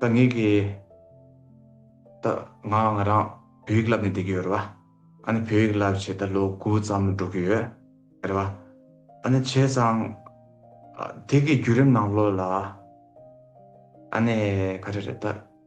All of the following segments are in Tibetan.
ད་ངེད་ཀྱིས་ད་ང་ང་རང་བོད་ཡིག་བསླབས་ནས་བསྡད་ཀྱི་ཡོད་རེད་བ། ཨ་ནི་བོད་ཡིག་བསླབས་བྱས་ད་ལོ་དགུ་ཙམ་འགྲོ་གི་ཡོད་རེད་བ། ཨ་ནི་བྱས་ཙང་དེ་གི་བརྒྱུད་རིམ་ནང་ལོ་ལ་ཨ་ནི་ག་རེ་རེད་ད།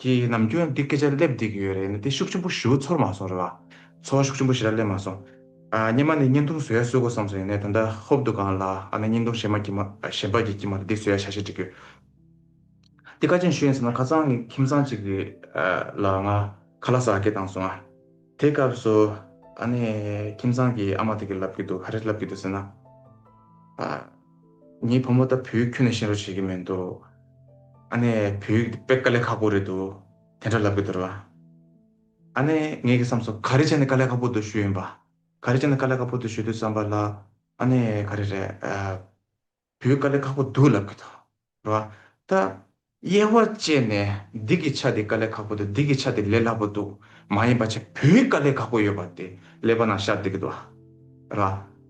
ཀྱི་ནམ་རྒྱུན་འདི་སྐད་ཆ་སླེབས་བསྡད་ཀྱི་ཡོད་རེད་ནི་དེ་ཤུགས་ཆེན་པོ་ཞུ་ཚོར་མ་སོང་རེད་བ། ཚོར་ཤུགས་ཆེན་པོ་ཞེ་དྲག་སླེབས་མ་སོང། སྙེ་མ་ནི་བརྙན་ཐུང་བཟོ་ཡ་གསོད་དགོས་བསམ་སོང་ཡིན་ནའི་ད་ལྟ་ཧོབ་འདུག་གང་ལ་ཨ་ན་བརྙན་ཐུང་གཞན་མ་གྱི་མ་གཞན་པ་གྱི་གྱི་མ་རེད་འདི་བཟོ་ཡ་ཤ་ཤེད་འགྲིག་ཡོད། འདི་ཁ་ཆེམས་ཞུ་ཡིན་ཟེར་ན་ཁ་ཚང་གི་ཁྱིམ་ཚང་གཅིག་གི་ལ་ང་ཁ་ལ་ཟ་སྐད་བཏང་སོང་ཨ། དེ་སྐབས་སུ་ཨ་ནའི་ཁྱིམ་ཚང་གི་ཨ་མ་དེ་གི་ལབ་ཀྱི་འདུག་ཧ་རེ་ལབ་ཀྱི་འདུག་ཟེར་ན། ངའི་བུ་མོ་ད་བུའི་ཁྱོད་ནས་ཤེས་རོགས་བྱེད་ཀྱི་མེད་འདུག་ཨ་ནེ། བུའི་དཔེ་དཀའ་ལས་ཁག་པོ་རེད་འདུག་དེ་འདྲ་ལབ་ཀྱི་འདུག་རོགས་ཨ་ནེ། ངས་ཀྱི་བསམས་སོ་ག་རེ་བྱས་ནས་དཀའ་ལས་ཁག་པོ་འདུག་ཞུས་ཡིན་པ། ག་རེ་བྱས་ནས་དཀའ་ལས་ཁག་པོ་འདུག་ཞུས་འདུག་བསམས་པ་ལ་ཨ་ནེ། ག་རེ་རེད། བུའི་དཀའ་ལས་ཁག་པོ་འདུག་ལབ་ཀྱི་འདུག་བ། ད། དབྱེ་བ་བཅད་ནས་འདི་གི་ཆ་དེ་དཀའ་ལས་ཁག་པོ་དང་འདི་གི་ཆ་དེ་ལས་སླ་པོ་འདུག་མ་ཡིན་པ་ཆ་བུའི་དཀའ་ལས་ཁག་པོ་ཡོད་པ་དེ་ཀླད་པ་ནང་ཤར་འདི་གི་དོ། ར།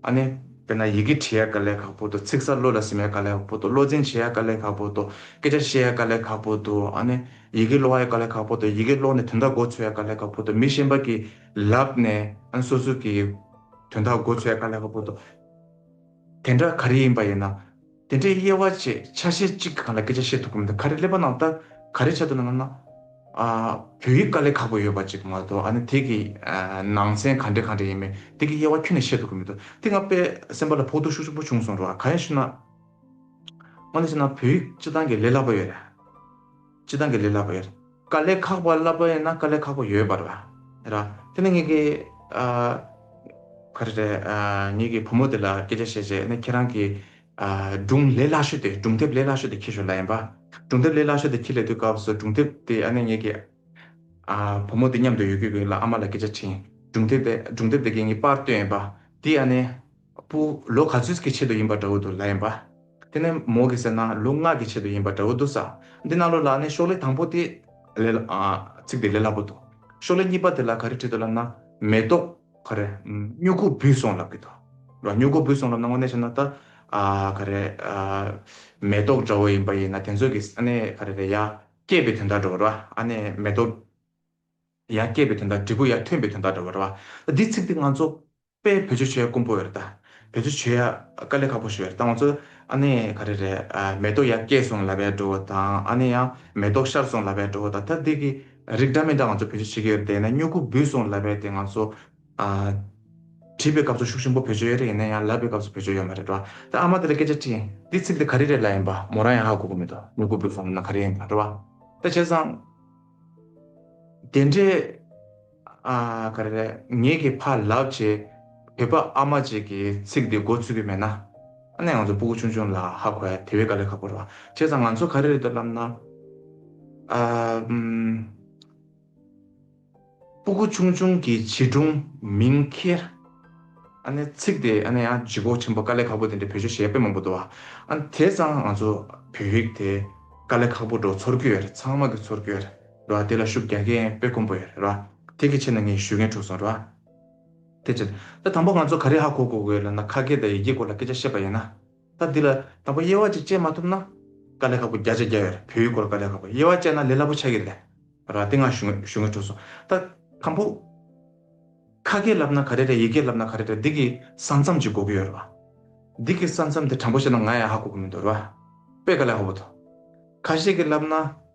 ཨ་ནི། དཔེར་ན་ཡི་གེ་བྲི་ཡ་དཀའ་ལས་ཁག་པོ་འདུག་ཚིག་གསར་བློ་ལ་སིམ་ཡ་དཀའ་ལས་ཁག་པོ་འདུག་བློ་འཛིན་བྱེད་ཡ་དཀའ་ལས་ཁག་པོ་འདུག་སྐད་ཆ་བཤད་ཡ་དཀའ་ལས་ཁག་པོ་འདུག་ཨ་ནི། ཡི་གེ་ཀློག་ཡ་དཀའ་ལས་ཁག་པོ་འདུག་ཡི་གེ་ཀློག་ནས་དོན་དག་མགོ་འཚོས་ཡ་དཀའ་ལས་ཁག་པོ་འདུག་མི་གཞན་པ་གི་ལབ་ནས་ཨ་ནི་སོ་སོ་གི་དོན་དག་མགོ་འཚོས་ཡ་དཀའ་ལས་ཁག་པོ་འདུག་དེ་འདྲ་ག་རེ་ཡིན་པ་ཡིན་ན། དེ་འདྲའི་དབྱེ་བ་བཅས་ཆ་ཤས་གཅིག་གི་སྒང་ལ་སྐད་ཆ་བཤད་ཐུབ་ཀྱི་མི་འདུག་ག་རེ་ཀླད་པ་ནང་ལྟ་ག་རེ་བྱ་འདུག་ནམ། བོད་ཡིག་དཀའ་ལས་ཁག་པོ་ཡོད་པ་ཅིག་མ་གཏོགས་ཨ་ནི་དེ་གི་ནང་ཚན་ག་འདྲའི་ག་འདྲ་ཡིན་མིན་དེ་གི་དབྱེ་བ་ཁྱོན་ནས་བཤད་ཐུབ་ཀྱི་མི་འདུག་དེ་སྔ་པས་སེམས་པ་ལ་ཕོག་ཐུག་ཤུགས་ཆེན་པོ་བྱུང་སོང་འགྲོ་ག་ཡང་ཞུ་ན། དངོས་ནས་བཤད་ན་བོད་ཡིག་སྤྱི་བཏང་གི་ལས་སླ་པོ་ཡོད་རེད། སྤྱི་དང་གི་ལས་བསླབ་པ་ཡོད། དཀའ་ལས་ཁག་པ་བསླབ་པ་ཡིན་ན་དཀའ་ལས་ཁག་པོ་ཡོད་པ་རེད། ར། དེ་ནི་ངེད་ཀྱི། ག་རེ་རེད། ངེད་ཀྱི་བུ་མོ་དེ་ལ་སྐད་ཆ་བཤད་རྗེས་ནི་ཁྱེད་རང་གི། སྒྲུང་ལས་སླ་ཤོས་དེ་སྒྲུང་དེབ་ལས་སླ་ཤོས་དེ་འཁྱེར་ཞོར་ལ་ཡིན་པ། སྒྲུང་དེབ་ལས་སླ་ཤོས་དེ་འཁྱེར་ལས་དུས་སྐབས་སུ་སྒྲུང་དེབ་དེ་ཨ་ནེ་ངེད་ཀྱི། བུ་མོ་དེ་མཉམ་དུ་ཡོད་ཀི་ཡོད་ལ་ཨ་མ་ལ་སྐད་ཆ་དྲིས། སྒྲུང་དེབ་དེ་སྒྲུང་དེབ་དེ་གིས་ངེད་པར་བཏོན་ཡོད་པ། དེས་ཨ་ནེ། པུ། ལོ་ག་ཚོད་ཀྱི་ཆེད་དུ་ཡིན་པ་འདྲ་བོ་འདུག་ལ་ཡིན་པ། དེ་ནས་མོ་གིས་ཟེར་ན་ལོ་ལྔ་གི་ཆེད་དུ་ཡིན་པ་འདྲ་བོ་འདུག་ས་འདི་གནང་ལོ་ལགས་ནས་ཤོག་ལེ་དང་པོ་དེ། ལས། ཚིག་དེ་ལས་སླ་པོ་འདུག་ཤོག་ལེ་གཉིས་པ་དེ་ལ་ག་རེ་བྲིས་འདུག་ལབ་ན། མེ་ཏོག། ག་རེ། སྨྱུ་གུ་འབུས་སོང་ལབ་ཀྱི་འདུག་ལ་སྨྱུ་གུ་འབུས་སོང་ལབ་ན་དངོས་གནས་བཤད་ན་ད། ག་རེ། མེ་ཏོག་འདྲ་བོ་ཡིན་པ་ཡིན་ན་དེ་ཚོ་གིས་ཨ་ནི་ག་རེ་རེད་ཡ། སྐྱེས་པའི་དོན་དག་འདྲ་བོ་རེད་བ་ཨ་ནི་མེ་ཏོག། ཡ་སྐྱེས་པའི་དོན་དག་འབྲས་བུ་ཡ་ཐོན་པའི་དོན་དག་འདྲ་བོ་རེད་བ། ད་འདི་ཚིག་འདི་ང་ཚོ། པས་བེད་སྤྱོད་བྱེད་ཡ་དཀོན་པོ་རེད་ད། བེད་སྤྱོད་བྱེད་ཡ་དཀའ་ལས་ཁག་པོ་ཞིག་རེད་ད་ང་ཚོ། ཨ་ནི་ག་རེ་རེད་མེ་ཏོག་ཡ་སྐྱེས་སོང་ལབ་ཡ་འགྲོ་བ་དང་ཨ་ནི་ཡང་མེ་ཏོག་ཤར་སོང་ལབ་ཡ་འགྲོ་བ་དང་ད་དེ་གི་རིགས་འདྲ་མི་འདྲ་ང་ཚོ་བེད་སྤྱོད་བྱེད་ཀྱི་ཡོད་དེ་ཡིན་ན་སྨྱུ་གུ་འབུས་སོང་ལབ་ཡ་དེ་ང་ཚོ། བྲིས་པའི་སྐབས་སུ་ཤུགས་ཆེན་པོ་བེད་སྤྱོད་ཡ་རེད་ཡིན་ན་ཡང་ལབ་པའི་སྐབས་སུ་བེད་སྤྱོད་ཡ་མ་རེད་འགྲོ་བ་དང་ཨ་མ་དེ་ལ་སྐད་ཆ་དྲིས། འདི་ཚིག་འདི་ག་རེ་རེད་ལབ་ཡིན་པ་མོ་རང་ཡང་ཧ་གོ་གི་མི་འདུག་སྨྱུ་གུ་འབུས་སོང་ལབ་ན་ག་རེ་ཡིན་པ་འགྲོ་བ་ད་བྱས་ཙང། དེ་འདྲའི། ག་རེ་རེད། ངེད་ཀྱི་ཕ་ལགས་ཀྱི་བོད་པ་ཨ་མ་ཅིག་གིས་ཚིག་འདི་འགོ་ཚུགས་ཀྱི་མེད་ན། ཨ་ནེ་ང་ཚོ་སྤུ་གུ་ཆུང་ཆུང་ལ་ཧ་གོ་ཡ་དེ་བས་ག་ལས་ཁག་པོ་རེད་བ། བྱས་ཙང་ང་ཚོ་ག་རེ་རེད་འདོད་ལབ་ན། སྤུ་གུ་ཆུང་ཆུང་གི་བྱིས་སྒྲུང་མིང་ཁྱེར། ཨ་ནེ་ཚིག་དེ་ཨ་ནེ་ཨ་ཇི་གོ་ཆེན་པོ་ག་ལས་ཁག་པོ་དེ་འདྲའི་བོད་ཆོས་གཞས་དཔེ་མང་པོ་འདུག་བ། ཨ་ནེ་དེས་ཙང་ང་ཚོ་བོད་ཡིག་དེ་ག་ལས་ཁག་པོ་འགྲོ་ཚོར་གྱི་ཡོད་རེད་ཚང་མ་གི་ཚོར་གྱི་ཡོད་རེད། ར། དེ་ལ་ཤུགས་རྒྱག་མཁན་དཔེ་དཀོན་པོ་ཡོད་ར། དེ་གི་ཕྱིར་ན་ངས་ཞུས་མཁན་འཁྲུགས་སོང་ར། དེ་ཕྱིར། ད་དང་པོ་ང་ཚོ་ག་རེ་ཧ་གོ་གོ་དགོས་ལབ་ན་ཁ་སྐད་དང་ཡི་གེའི་སྐོར་ལ་སྐད་ཆ་བཤད་པ་ཡིན་ན། ད་འདི་ལ་དང་པོ་དབྱེ་བ་ཅིག་དཔྱད་མ་ཐུབ་ན། དཀའ་ལས་ཁག་པོ་བརྒྱ་ཆ་བརྒྱ་ཡོད་ར་བོད་ཡིག་སྐོར་དཀའ་ལས་ཁག་པོ་དབྱེ་བ་དཔྱད་ན་ལས་སླ་པོ་ཆགས་ཀྱི་རེད་ར། དེ་ང་ཞུས་མཁན་འཁྲུགས་སོང་ད། དང་པོ། ཁ་སྐད་ལབ་ན་ག་རེ་རེད་ཡི་གེ་ལབ་ན་ག་རེ་རེད་འདི་གི་ས་མཚམས་ཅིག་གོ་གི་ཡོད་ར། འདི་གི་ས་མཚམས་དེ་དྲང་པོ་བཤད་ན་ང་ཡང་ཧ་གོ་གི་མི་འདུག་ར། དཔེ་དཀའ་ལས་ཧ་པོ་འདུག། ཁ་ཤས་ཀྱི་ལབ་ན།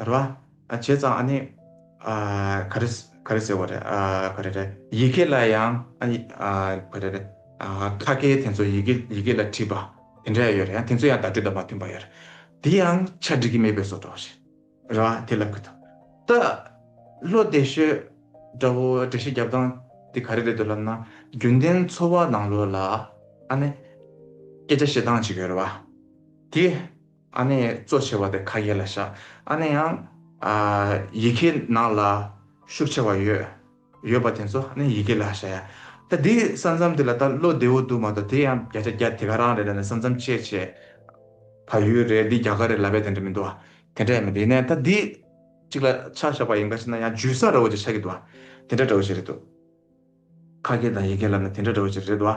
ར། བྱས་ཙང་ཨ་ནི། ག་རེ། ག་རེ་ཟེར་བ་རེད། ག་རེ་རེད། ཡི་གེ་ལ་ཡང། ག་རེ་རེད། ཁ་སྐད་དེ་ཚོ་ཡི་གེ་ཡི་གེ་ལ་བྲིས་པ། དེ་འདྲ་ཡང་ཡོད་རེད་ཡང་དེ་ཚོ་ཡང་བརྡ་སྤྲོད་དང་མ་མཐུན་པ་ཡོད་རེད། དེ་ཡང་ཆ་འགྲིག་གི་མེད་པའི་བཟོ་གྲོགས་རེད། ར། དེ་ལབ་གི་འདུག་ད། བློ་བདེ་ཤོད། དགྲ་བོ་འགྲེལ་བཤད་རྒྱབ་སྟངས་དེ་ག་རེ་རེད་འདུག་ལབ་ན། རྒྱུན་ལྡན་འཚོ་བ་ནང་ལོགས་ལ། ཨ་ནི། སྐད་ཆ་བཤད་སྟངས་ཅིག་ཡོད་རེད་བ། དེ། ཨ་ནེ་གཙོ་ཆེ་བ་དེ་ཁ་ཡེ་ལ་བཞག་ཨ་ནེ་ཡང་ཡི་གེ་ནང་ལ་ཤུགས་ཆེ་བ་ཡོད་ཡོད་པ་དེ་ཚོ་ཨ་ནེ་ཡི་གེ་ལ་བཞག་ཡ། ད་འདི་ས་མཚམས་དེ་ལ་ད་བློ་བདེ་བོ་འདུག་མ་གཏོགས་དེ་ཡང་བརྒྱ་ཆ་བརྒྱ་དེ་ག་རང་རེད་ད་ནི་ས་མཚམས་བཅད་བྱས་བ་ཡུལ་རེད་འདི་རྒྱ་གར་རེད་ལབ་པའི་དེ་འདྲ་མི་འདུག་བ། དེ་འདྲ་ཡང་མི་འདུག་ཡིན་ན་ཡང་ད་འདི་གཅིག་ལ་ཆ་བཞག་པ་ཡིན་ག་ཅེ་ན་ཡང་ཇུས་ས་ར་བོ་ཅིག་ཆགས་ཀྱི་འདུག་བ། དེ་འདྲ་འདྲ་བོ་ཞིག་རེད་འདུག། ཁ་སྐད་དང་ཡི་གེ་ལབ་ན་དེ་འདྲ་འདྲ་བོ་ཅིག་རེད་བ།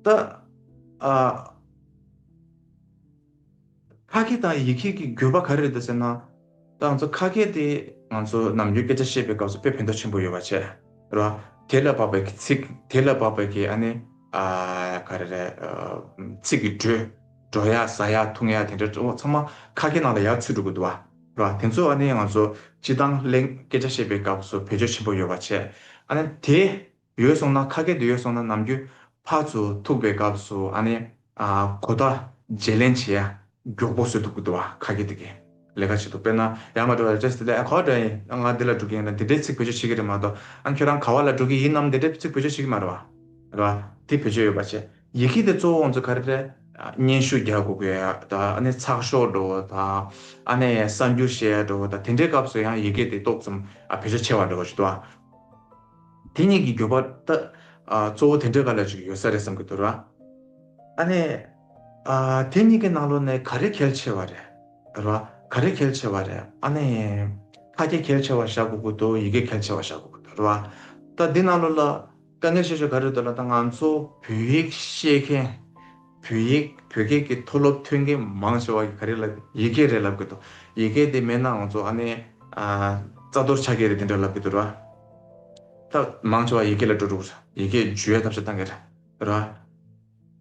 ད་ཨ། ཁ་སྐད་དང་ཡི་གེ་ཀྱི་འགྱུར་བ་ག་རེ་རེད་ཟེར་ན། ད་ང་ཚོ་ཁ་སྐད་དེ་ང་ཚོ་ནམ་རྒྱུན་སྐད་ཆ་བཤད་པའི་སྐབས་སུ་དཔེ་ཕན་ཐོགས་ཆེན་པོ་ཡོད་བ་ཆེ། རེད་བ། དེ་ལ་བབ་པའི་ཚིག་དེ་ལ་བབ་པའི་ཀྱི་ཨ་ནི། ཨ། ག་རེ་རེད། ཚིག་གི་འགྲོས། སྒྲོ་ཡག་ཟ་ཡག་འཐུང་ཡག་དེ་འདྲ་འདྲ་བོ་ཚང་མ་ཁ་སྐད་ནང་ལ་ཡག་ཚུད་འགྲོ་གི་འདུག་བ་རེད་བ། དེ་ཚོ་ཨ་ནི་ང་ཚོ་སྤྱི་དང་གླེང་སྐད་ཆ་བཤད་པའི་སྐབས་སུ་བེད་སྤྱོད་ཆེན་པོ་ཡོད་བ་བྱས། ཨ་ནི་དེ་ཡོད་སོང་ན་ཁ་སྐད་དེ་ཡོད་སོང་ན་ནམ་རྒྱུན་ཕར་ཚུར་ཐུག་པའི་སྐབས་སུ་ཨ་ནི་གོ་བརྡ་བརྗེ་ལེན་བྱེད་ཡག་མགྱོགས་པོ་བཟོས་ཐུབ་ཀྱི་འདུག་བ་ཁ་སྐད་དེ་གས་ལས་ཀ་བྱེད་འདུག་དཔེར་ན་ཡར་མར་འགྲོ་བ་རེད་ཅེས་དེ་ལས་ཨ་གོ་བ་འདྲ་ཡིན་ཨ་ང་འདི་ལ་འགྲོ་གི་ཡིན་ལ་འདི་འདྲའི་ཚིག་བེད་སྤྱོད་བྱེད་ཀྱི་རེད་མ་གཏོགས་ཨ་ཁྱོད་རང་ག་བ་ལ་འགྲོ་གི་ཡིན་ནམ་འདི་འདྲའི་ཚིག་བེད་སྤྱོད་བྱེད་ཀྱི་མ་རེད་བ། རེད་བ། དེ་བེད་སྤྱོད་ཡོད་བ་བྱས། ཡི་གེ་དེ་གཙོ་བོ་ང་ཚོ་ག་རེ་རེད། སྙན་ཞུ་རྒྱག་དགོས་གི་དང། ཚགས་ཤོག་འགྲོ་བ་དང། གསར་འགྱུར་བཤད་ཡག་འགྲོ་བ་དང། དེ་འདྲའི་སྐབས་སུ་ཡང་ཡི་གེ་དེ་ཏོག་ཙམ་བེད་སྤྱོད་ཆེ་བ་འགྲོ་བ་ཞིག་འདུག་ཨ། དེ་གཉིས་ཀྱི་འགྱུར་བ་ད་གཙོ་བོ་དེ་འདྲའི་བཀའ་ལ་ཅིག་ཡོད་ས་རེད་བསམ་གྱི་འདུག་ར། ཨ་ནས། དེ་གཉིས་ཀྱི་ནང་ལོ་ནས་ག་རེ་གལ་ཆེ་བ་རེད། ར། ག་རེ་གལ་ཆེ་བ་རེད་ཨ་ནས། ཁ་སྐད་གལ་ཆེ་བ་བཞག་དགོས་གི་འདུག་ཡི་གེ་གལ་ཆེ་བ་བཞག་དགོས་གི་འདུག་ར། ད་འདི་ནང་ལོ་ལ། དཀའ་ངལ་ཆེ་ཤོས་ག་རེད་འདོད་ལ་ད་ང་ཚོ་བོད་ཡིག་ཤེས་མཁན་བོད་ཡིག་བོད་སྐད་ཀྱི་མཐོ་སློབ་ཐོན་མཁན་མང་ཆེ་བ་ག་རེ་ལབ་དགོས་ཡི་གེ་རེ་ལབ་དགོས་འདུག་ཡི་གེ་དེ་མེད་ན་ང་ཚོ་ཨ་ནེ་རྩ་གཏོར་ཆ་གས་རེ་དེ་འདྲ་ལབ་དགོས་འདུག་ར། ད་མང་ཆེ་བ་ཡི་གེ་ལ་འགྲོ་འགྲོ་གི་རེད་ཡི་གེ་བརྗོད་ཐབས་ཆ་གཏང་གི་རེད་ར།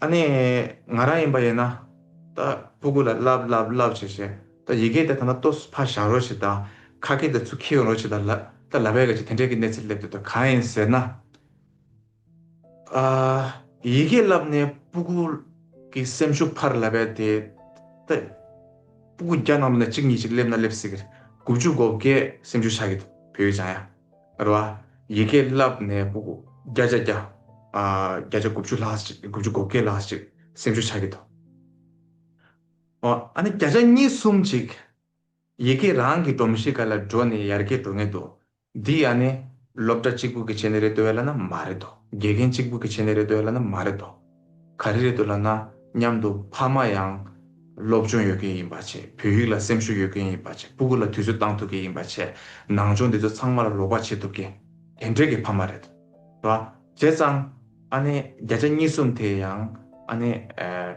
ཨ་ནེ། ང་རང་ཡིན་པ་ཡིན་ན། ད་སྤུ་གུ་ལ་ལབ་ལབ་ལབ་བྱས་བྱས། ད་ཡི་གེ་དེ་ད་ན་ཏོ་སུ་ཕ་བཞག་རོགས་བྱས་ད། ཁ་སྐད་དེ་ཚུ་ཁེའུ་རོགས་བྱས་ད། ད་ལ་བས་ག་ཅི་དེ་འདྲས་ཀྱི་གནས་ཚུལ་སླེབས་འདུག་ད་གང་ཡིན་ཟེར་ན། ཨ། ཡི་གེ་ལབ་ནས་སྤུ་གུ། གི་སེམས་ཤུགས་འཕར་ལ་བས་དེ། ད། སྤུ་གུ་རྒྱ་ནང་དུ་ནས་གཅིག་གཉིས་ཅིག་སླེབས་ན་སླེབས་སྲིད། དགུ་བཅུ་གོ་བརྒྱད་སེམས་ཤུགས་ཆག་གི་འདུག་བོད་ཡིག་སྦྱང་ཡ། ལ། ཡི་གེ་བསླབས་ནས་སྤུ་གུ་བརྒྱ་ཆ་བརྒྱ། བརྒྱ་ཆ་དགུ་བཅུ་ལྷག་ཅིག་དགུ་བཅུ་གོ་བརྒྱད་ལྷག་ཅིག་སེམས་ཤུགས་ཆགས་ཀྱི་འདུག། ཨོ། ཨ་ནི་བརྒྱ་ཆ་གཉིས་གསུམ་ཅིག་ཡི་གེ་རང་གི་སྒྲོམ་གཞི་ག་ལ་འགྲོ་ནས་ཡར་རྒྱས་འགྲོ་ངེས་འདུག་འདི་ཨ་ནི་སློབ་གྲྭ་གཅིག་པུ་གི་བྱེད་ནི་རེད་འདོད་ལ་ན་མ་རེད་དོ། དགེ་རྒན་གཅིག་པུ་གི་བྱེད་ནི་རེད་འདོད་ལ་ན་མ་རེད་དོ། ག་རེ་རེད་འདུག་ལབ་ན་མཉམ་དུ་ཕ་མ་ཡང་སློབ་སྦྱོང་ཡོད་མཁན་ཡིན་པ་བྱས་བོད་ཡིག་ལ་སེམས་ཤུགས་ཡོད་མཁན་ཡིན་པ་བྱས་སྤུ་གུ་ལ་དུས་ཚོད་བཏང་ཐུབ་མཁན་ཡིན་པ་བྱས་ནང་སྦྱོང་འདི་ཚོ་ཚང་མ་ལ་རོགས་པ་བྱེད་ཐུབ་མཁན་དེ་འདྲས་ཀྱི་ཕ་མ་རེད་བ། བྱས་ཙང་ཨ་ནེ་བརྒྱ་ཆ་གཉིས་གསུམ་དེ་ཡང་ཨ་ནེ་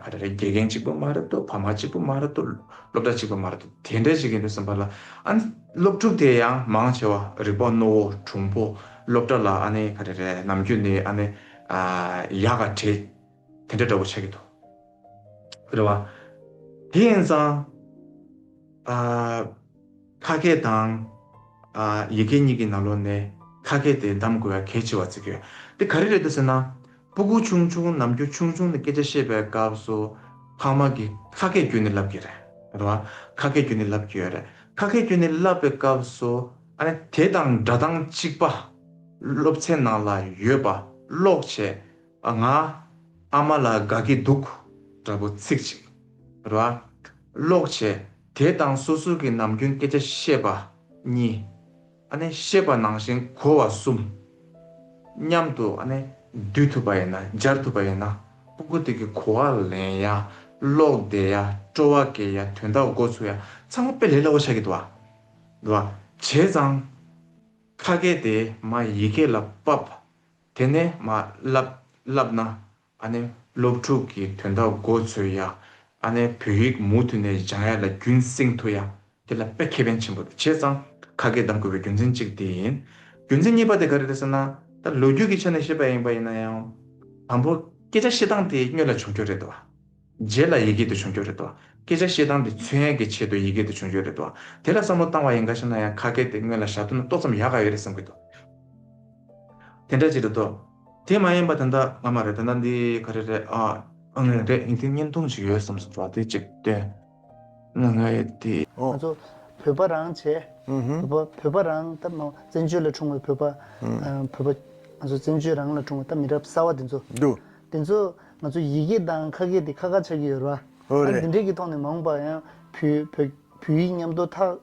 ག་རེ་རེད་དགེ་རྒན་གཅིག་པུ་མ་རེད་དོ་ཕ་མ་གཅིག་པུ་མ་རེད་དོ་སློབ་གྲྭ་གཅིག་པུ་མ་རེད་དོ་དེ་འདྲས་ཞིག་ཡིན་འདུག་སེམས་པ་ལ་ཨ་ནེ་སློབ་ཕྲུག་དེ་ཡང་མང་ཆེ་བ་རིག་པ་རྣོ་བོ་གྲུང་པོ་སློབ་གྲྭ་ལ་ཨ་ནེ་ག་རེ་རེད་ནམ་རྒྱུན་ནས་ཨ་ནེ། ཨ། ཡག་ག་བྲེ། དེ་འདྲ་འདྲ་བོ་ཆགས་ཀྱི་འདུག། རེད་བ། དེ་ཡིན་ཙང། ཨ། ཁ་སྐད་དང། ཨ། ཡི་གེ་གཉིས་ཀྱི་ནང་ལོགས་ནས་ཁ་སྐད་དེ་འདམ་དགོས་ཡ་གལ་ཆེ་བ་བརྩི་གི་ཡོད། དེ་ག་རེ་རེད་ད་ཟེར་ན། སྤུ་གུ་ཆུང་ཆུང་ནམ་རྒྱུ་ཆུང་ཆུང་ནས་སྐད་ཆ་བཤད་པའི་སྐབས་སུ། ཕ་མ་གིས་ཁ་སྐད་བརྒྱུད་ནས་ལབ་ཀྱི་རེད། རེད་བ། ཁ་སྐད་བརྒྱུད་ནས་ལབ་ཀྱི་ཡོད་རེད། ཁ་སྐད་བརྒྱུད་ནས་ལབ་པའི་སྐབས་སུ། དེ་དང་འདྲ་དང་གཅིག་པ། སློབ་ཚན་ནང་ལ་ཡོད་པ་ཀློག་བྱས་པ་ང་ཨ་མ་ལ་དགའ་གི་འདུག་འདྲ་པོ་ཚིག་གཅིག་ར་ཀློག་བྱས་དེ་དང་སོ་སོ་གི་ནམ་རྒྱུན་སྐད་ཆ་བཤད་པ་གཉིས། བཤད་པ་ནང་བཞིན་གོ་བ་གསུམ། མཉམ་དུ་བསྡུས་ཐུབ་པ་ཡིན་ན་སྦྱར་ཐུབ་པ་ཡིན་ན་པུ་གུ་དེ་གི་གོ་བ་ལེན་ཡ་ཀློག་བདེ་ཡ་སྤྲོ་བ་དགེ་ཡ་དོན་དག་འགོ་ཚུགས་ཡ་ཚང་མ་དཔེ་ལེགས་སླ་བོ་ཆགས་ཀྱི་འདུག་ཨ། ལ། བྱས་ཙང། ཁ་སྐད་དེ་མ་ཡི་གེ་ལ་དཔབ། དེ་ནས་མ་བསླབས་ན། ཨ་ནེ་སློབ་ཕྲུག་གི་དོན་དག་མགོ་ཚོས་ཡ། ཨ་ནེ་བོད་ཡིག་མུ་མཐུད་ནས་སྦྱང་ཡ་ལ་རྒྱུན་བསྲིང་ཐུ་ཡ། དེ་ལ་དཔེ་ཁེ་ཕན་ཆེན་པོ་དེ་བྱས་ཙང་ཁ་སྐད་གདམ་དགོས་པའི་རྒྱུ་མཚན་གཅིག་དེ་ཡིན། རྒྱུ་མཚན་གཉིས་པ་དེ་ག་རེ་རེད་ཟེར་ན། ད་ལོ་རྒྱུས་ཀྱི་ཆ་ནས་བཤད་པ་ཡིན་པ་ཡིན་ན་ཡང། དང་པོ་སྐད་ཆ་བཤད་སྟངས་དེ་སྨྱོས་ལ་བྱུང་ཁྱོད་རེད་དོ། རྗེས་ལ་ཡི་གེ་དེ་བྱུང་རྒྱུ་རེད་དོ། སྐད་ཆ་བཤད་སྟངས་དེ་ཚུལ་ཡན་གྱི་ཆེད་དུ་ཡི་གེ་དེ་བྱུང་རྒྱུ་རེད་དོ། དེ་ལ་བསམ་བློ་བཏང་བ་ཡིན་ག་ཞེ་ན་ཡང་ཁ་སྐད་དེ་སྔོན་ལ་ཞག་བདུན་ན་ཏོག་ཙམ་ཡག་ག་ཡོད་རེད་བསམ་གྱི་འདུག་དེ་འདྲ་ཅིག་རེད་དོ། དེ་མ་ཡིན་པ་དེ་འདྲ་ང་མ་རེད་དེ་འདྲ་འདི་ག་རེ་རེད་ཨ། ཨང་རེད་རེད་ཡིན་དེ་བརྙན་ཐུང་ཞིག་ཡོད་བསམ་སོང་བ་དེ་ཅིག་སྟོན། ང་ང་ཡི་དེ། ང་ཚོ་བོད་པ་རང་བྱས། བོད་པ་བོད་པ་རང་ད་མ་བཙན་བྱོལ་ལ་འཁྲུངས་བའི་བོད་པ། བོད་པ་ང་ཚོ་བཙན་བྱོལ་རང་ལ་འཁྲུངས་བ་ད་མི་རབས་གསར་བ་དེ་ཚོ། དེ་ཚོ་ང་ཚོ་ཡི་གེ་དང་ཁ་སྐད་དེ་ཁ་ཁ་ཆགས་ཀྱི་ཡོད་རེད་བ། ད་འདི་འདྲས་ཀྱི་ཐོག་ནས་མ་འོངས་པར་ཡང་བུ་བོད་བོད་ཡིག་ཉམས་དོ་ཐག་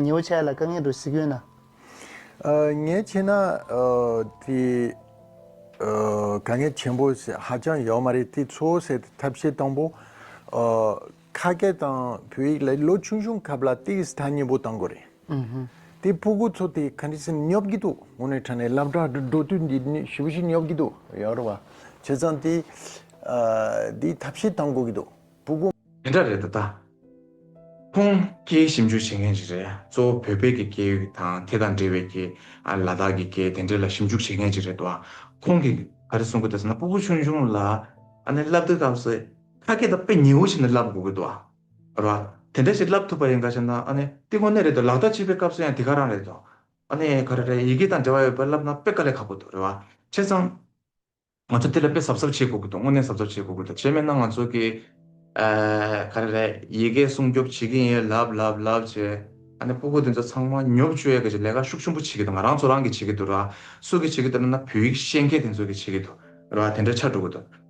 ཉེ་བོ་ཆགས་ཡོད་ལ་དཀའ་ངལ་འགྲོ་གཟིགས་ཡོད་ན། ངས་ཁྱེད་ན་དེ་དཀའ་ངལ་ཆེན་པོ་ཧ་ཅང་ཡོད་མ་རེད་དེ་ཚོ་སེལ་ཏེ་ཐབས་ཤེས་དང་པོ་ཁ་སྐད་དང་བོད་ཡིག་ལ་ལོ་ཆུང་ཆུང་སྐབས་ལ་དེ་གི་ས་ཐག་ཉེ་བོ་གཏང་དགོས་རེད། དེ་ཕོ་རྒོད་ཚོ་དེ་ག་འདྲས་སེམས་སྙོབ་ཀྱི་འདུག་ངོ་ནས་དྲན་ནས་ལབ་དྲ་འགྲོ་དུས་འདི་ནི་བྱིས་པ་ཞིག་སྙོབ་ཀྱི་འདུག་ཡག་རེད་བ། བྱས་ཙང་དེ་དེའི་ཐབས་ཤེས་དང་དགོས་ཀྱི་འདུག་ཕོ་རྒོད། དེ་འདྲ་རེད་ད་ལྟ། ཁོང་སྐད་ཞིབ་འཇུག་བྱེད་མཁན་ཞིག་རེད་གཙོ་བོ་བོད་སྐད་ཀྱི་སྐད་ཡིག་དང་དེ་དང་འབྲེལ་བའི་སྐད་ལ་དྭགས་ཀྱི་སྐད་དེ་འདྲས་ལ་ཞིབ་འཇུག་བྱེད་མཁན་ཞིག་རེད་བ། ཁོང་གིས་ག་རེ་གསུང་གི་འདུག་ཟེར་ན་སྤུ་བོ་ཆུང་ཆུང་ལ་ཨ་ནེ་ལབ་དུས་སྐབས་སུ་ཁ་སྐད་དང་དཔེ་ཉེ་བོ་བྱས་ནས་ལབ་དགོས་ཀྱི་འདུག་བ། ར། དེ་འདྲ་ཞིག་བསླབ་ཐུབ་པ་ཡིན་ག་ཞེ་ན། ཨ་ནི། དེ་དངོས་གནས་རེད་དོ་ལག་བརྡ་བྱེད་པའི་སྐབས་སུ་ཡང་དེ་ག་རང་རེད་དོ། ཨ་ནི། ག་རེ་རེད་ཡི་གེ་དང་འབྲེལ་བ་ཡོད་པས་བསླབ་ན་དཔེ་ག་ལས་ཁག་པོ་འདུག་རེད་བ། བྱས་ཙང། ང་ཚོ་དེ་ལ་དཔེ་གཟབ་གཟབ་བྱེད་དགོས་ཀྱི་འདུག་དངོས་གནས་གཟབ་གཟབ་བྱེད་དགོས་ཀྱི་འདུག་བྱས་མེད་ན་ང་ཚོ་གིས། ག་རེ་རེད་ཡི་གེ་སྲུང་སྐྱོབ་བྱེད་ཀྱིན་ཡོད་ལབ་ལབ་ལབ་བྱས། ཨ་ནི། སྤུ་གུ་དེ་ཚོ་ཚང་མ་ཉོབ་ཆུ་ཡོད་ག་ཞིག་ལས་ཀ་ཤུགས་ཆེན་པོ་བྱེད་ཀྱི་འདུག་ང་རང་ཚོ་རང་གིས་བྱེད་ཀྱི་འདུག་རེད་བ། སུ་གིས་བྱེད་ཀྱི་འདུག་རེད་ན་བོད་ཡིག་ཤེས་མཁན་དེ་ཚོ་གིས་བྱེད་ཀྱི་འདུག་རེད་བ། དེ་འདྲ་ཆགས་འགྲོ་གི་འདུག།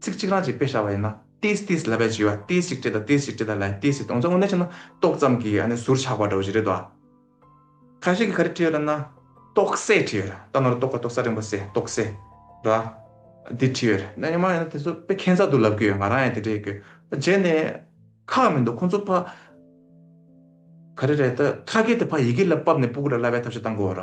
ཚིག་གཅིག་རང་གཅིག་དཔེ་བྱ་བ་ཡིན་ན། ཏིས་ཏིས་ལ་བས་བྱི་བ་ཏིས་ཤིག་ཏི་ད་ཏིས་ཤིག་ཏི་ད་ལའི་ཏིས་ཤིག་ཏི་འོང་ཙང་ངོ་ནས་བྱས་ན་ཏོག་ཙམ་གྱི་ཨ་ནི་ཟུར་ཆག་པ་འདྲ་བོ་ཞིག་རེད་དོ། ཁ་ཞིག་གིས་ག་རེ་བྲིས་ཡོད་ར་ན། ཏོག་སེ་བྲིས་ཡོད་ར། རྟ་ནོར་ཏོག་ག་ཏོག་ས་རིང་པོ་སེ་ཏོག་སེ། ར། འདི་བྲིས་ཡོད་ར། ན་ཉི་མ་ཡིན་ན་དེ་ཚོ་དཔེ་ཁྱད་མཚར་འདུག་ལབ་ཀྱི་ཡོད་ང་རང་ཡང་དེ་འདྲ་ཡིན་གྱི། རྗེས་ནས། ཁག་མི་འདུག་ཁོང་ཚོ་ཕ། ག་རེ་རེད་ད་ཁ་སྐད་དེ་ཕ་ཡི་གེ་ལ་བབས་ནས་སྤུ་གུ་ར་ལ་བས་ཐབས་ཤེས་བཏང་དགོས་ར།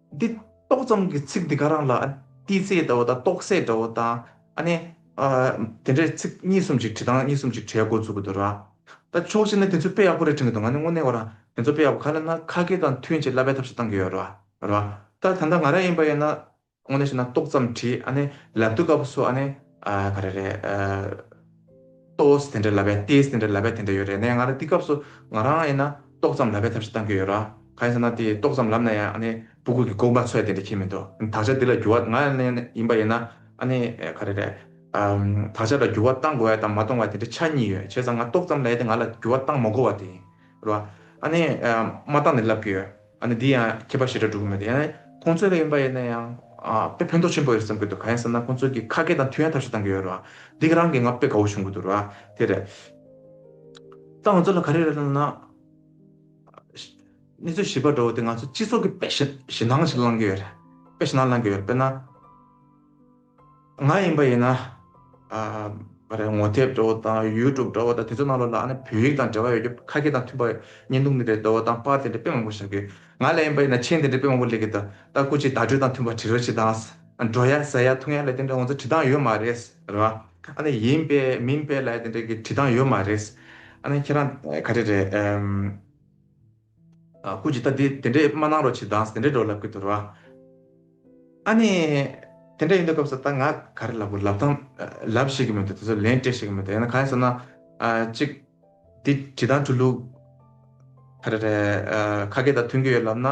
འདི་ཏོག་ཙམ་གྱི་ཚིག་འདི་ག་རང་ལ་ཏི་ཙེའི་འདྲ་བོ་དང་ཏོག་སའི་འདྲ་བོ་དང། ཨ་ནི། དེ་འདྲའི་ཚིག་གཉིས་གསུམ་ཅིག་བྲིས་དང་གཉིས་གསུམ་ཅིག་བྲིས་ཡག་པོ་འཛུགས་དགོས་འདུག་ད། ད་ཕྱོགས་ཅིག་ནས་དེ་ཚོ་དཔེ་ཡག་པོ་རེ་བྲིས་དགོས་འདུག་ང་ནི་དངོས་གནས་བ་རང་དེ་ཚོ་དཔེ་ཡག་པོ་ག་ལ་ན་ཁ་སྐད་དང་མཐུན་ཅིག་ལབ་པའི་ཐབས་ཤིག་གཏང་གི་ཡོད་ར་ར། ད་ད་ལྟ་ང་རང་ཡིན་པ་ཡིན་ན། དངོས་གནས་བཤད་ན་ཏོག་ཙམ་བྲིས་ཨ་ནི་ལབ་དུས་སྐབས་སུ་ཨ་ནི། ག་རེ་རེད། ཏོས་དེ་འདྲ་ལབ་པས་ཏེས་དེ་འདྲ་ལབ་པས་དེ་འདྲ་ཡོད་རེད་ནས་ང་ར་འདི་སྐབས་སུ་ང་རང་ཡིན་ན་ཏོག་ཙམ་ལབ་པའི་ཐབས་ཤིག་གཏང་གི་ཡོད་ར་གང་ཡིན་ཟེར་ན་དེ་ཏོག་ཙམ་ལབ་ན་ཡང་ཨ་ནི་སྤུ་གུད་ཀྱི་ལྐུགས་མ་ཚོད་དེ་འདྲ་ཁྱེད་མི་འདུག་དག་ཆ་འདི་ལ་འགྱུར་བ་ང་ཡང་ནས་ཡིན་པ་ཡིན་ན་ཨ་ནི་ག་རེ་རེད། དག་ཆ་ལ་འགྱུར་བ་གཏང་དགོས་བ་དང་མ་གཏོང་བ་དེ་འདྲ་ཆ་གཉིས་ཡོད་བྱས་ཙང་ང་ཏོག་ཙམ་ལས་དེ་ང་ལ་འགྱུར་བ་གཏང་མ་དགོས་བ་དེ་ཡིན་ར། ཨ་ནི་མ་གཏང་ནས་ལབ་ཀྱི་ཡོད། ཨ་ནི་འདི་ཡང་མཁས་པ་ཞེ་དྲག་སྒྲུབ་གི་མེད་དོ། ཡང་ན་ཁོང་ཚོའི་ལ་ཡོན་པ་ཡོད་ན་ཡང། དཔེ་ཕན་ཐོག་ཆེན་པོ་ཡོད་བསམ་གྱི་འདུག་ག་ཡང་བསམ་ན་ཁོང་ཚོ་གི་ཁ་སྐད་དང་མཐུན་ཡང་ཐབས་ཤེས་གཏང་གི་ཡོད་རོ། འདི་གི་རང་གི་ང་དཔེ་དགའ་བོ་བྱུང་གི་འདུག་རོ། དེ་རེད། ད་ང་ཚོ་ལ་ག་རེ་རེད་ལབ་ན། གནས་ཚུལ་ཞིབ་པ་འདྲ་བོ་དེ་ང་ཚོ་སྤྱི་ཚོགས་ཀྱི་དཔེ་ཞེ་སྣང་ཞིག་བླང་གི་ཡོད་རེད། དཔེ་ཞེ་སྣང་བླང་གི་ཡོད་རེད་དཔེར་ན། ང་ཡིན་པ་ཡིན་ན། རེད་ངོ་དེབ་འདྲ་བོ་དང YouTube འདྲ་བོ་དང་དེ་ཚོ་རྣམས་ལ་ལ་ནི་བོད་ཡིག་དང་འབྲེལ་བ་ཡོད་རྒྱུ་ཁ་སྐད་དང་མཐུན་པ་ཉན་འདུག་མི་རེད་འདྲ་བོ་དང་པར་དེ་འདྲ་དཔེ་མང་པོ་བཞག་དགོས། ང་ལ་ཡིན་པ་ཡིན་ན་མཆན་དེ་འདྲ་དཔེ་མང་པོ་ལེགས་ཀྱི་ད་ལྟ་སྐུ་ཅིག་བརྡ་སྤྲོད་དང་མཐུན་པ་བྲི་རོ་བྱེད་སྟངས། འགྲོ་ཡ་ཟ་ཡ་འཐུང་ཡ་ལ་དེ་འདྲ་ང་ཚོ་བྲི་སྟངས་ཡོད་མ་རེད། རེད་བ། ཨ་ནི་ཡིན་པས་མིན་པས་ལ་དེ་འདྲ་གི་བྲི་སྟངས་ཡོད་མ་རེད། ཨ་ནི་ཁྱེད་རང་ག་རེ་རེད། ཀུན་གྱིས་ལྟ་དེ་དེ་འདྲས་མ་གནང་རོགས་ཕྱིར་འདང་སེ་འདྲས་འགྲོ་ལབ་གི་དོར་བ། ཨ་ནི། དེ་འདྲས་ཡིན་དུས་སྐབས་སུ་ད་ང་ག་རེ་ལབ་དགོས་ལབ་དང། ལབ་བཤད་ཀྱི་མི་འདུག་དེ་ཚོ་ལན་སྤྲད་བཤད་ཀྱི་མི་འདུག་ཡང་ན་གང་ཡིན་ཟེར་ན། གཅིག། དེ་བྲིས་ཐང་འཁྲུལ་ལུགས། ཨ་རེ་རེ། ཁ་སྐད་དང་མཐུན་གྱི་ཡོད་ལབ་ན།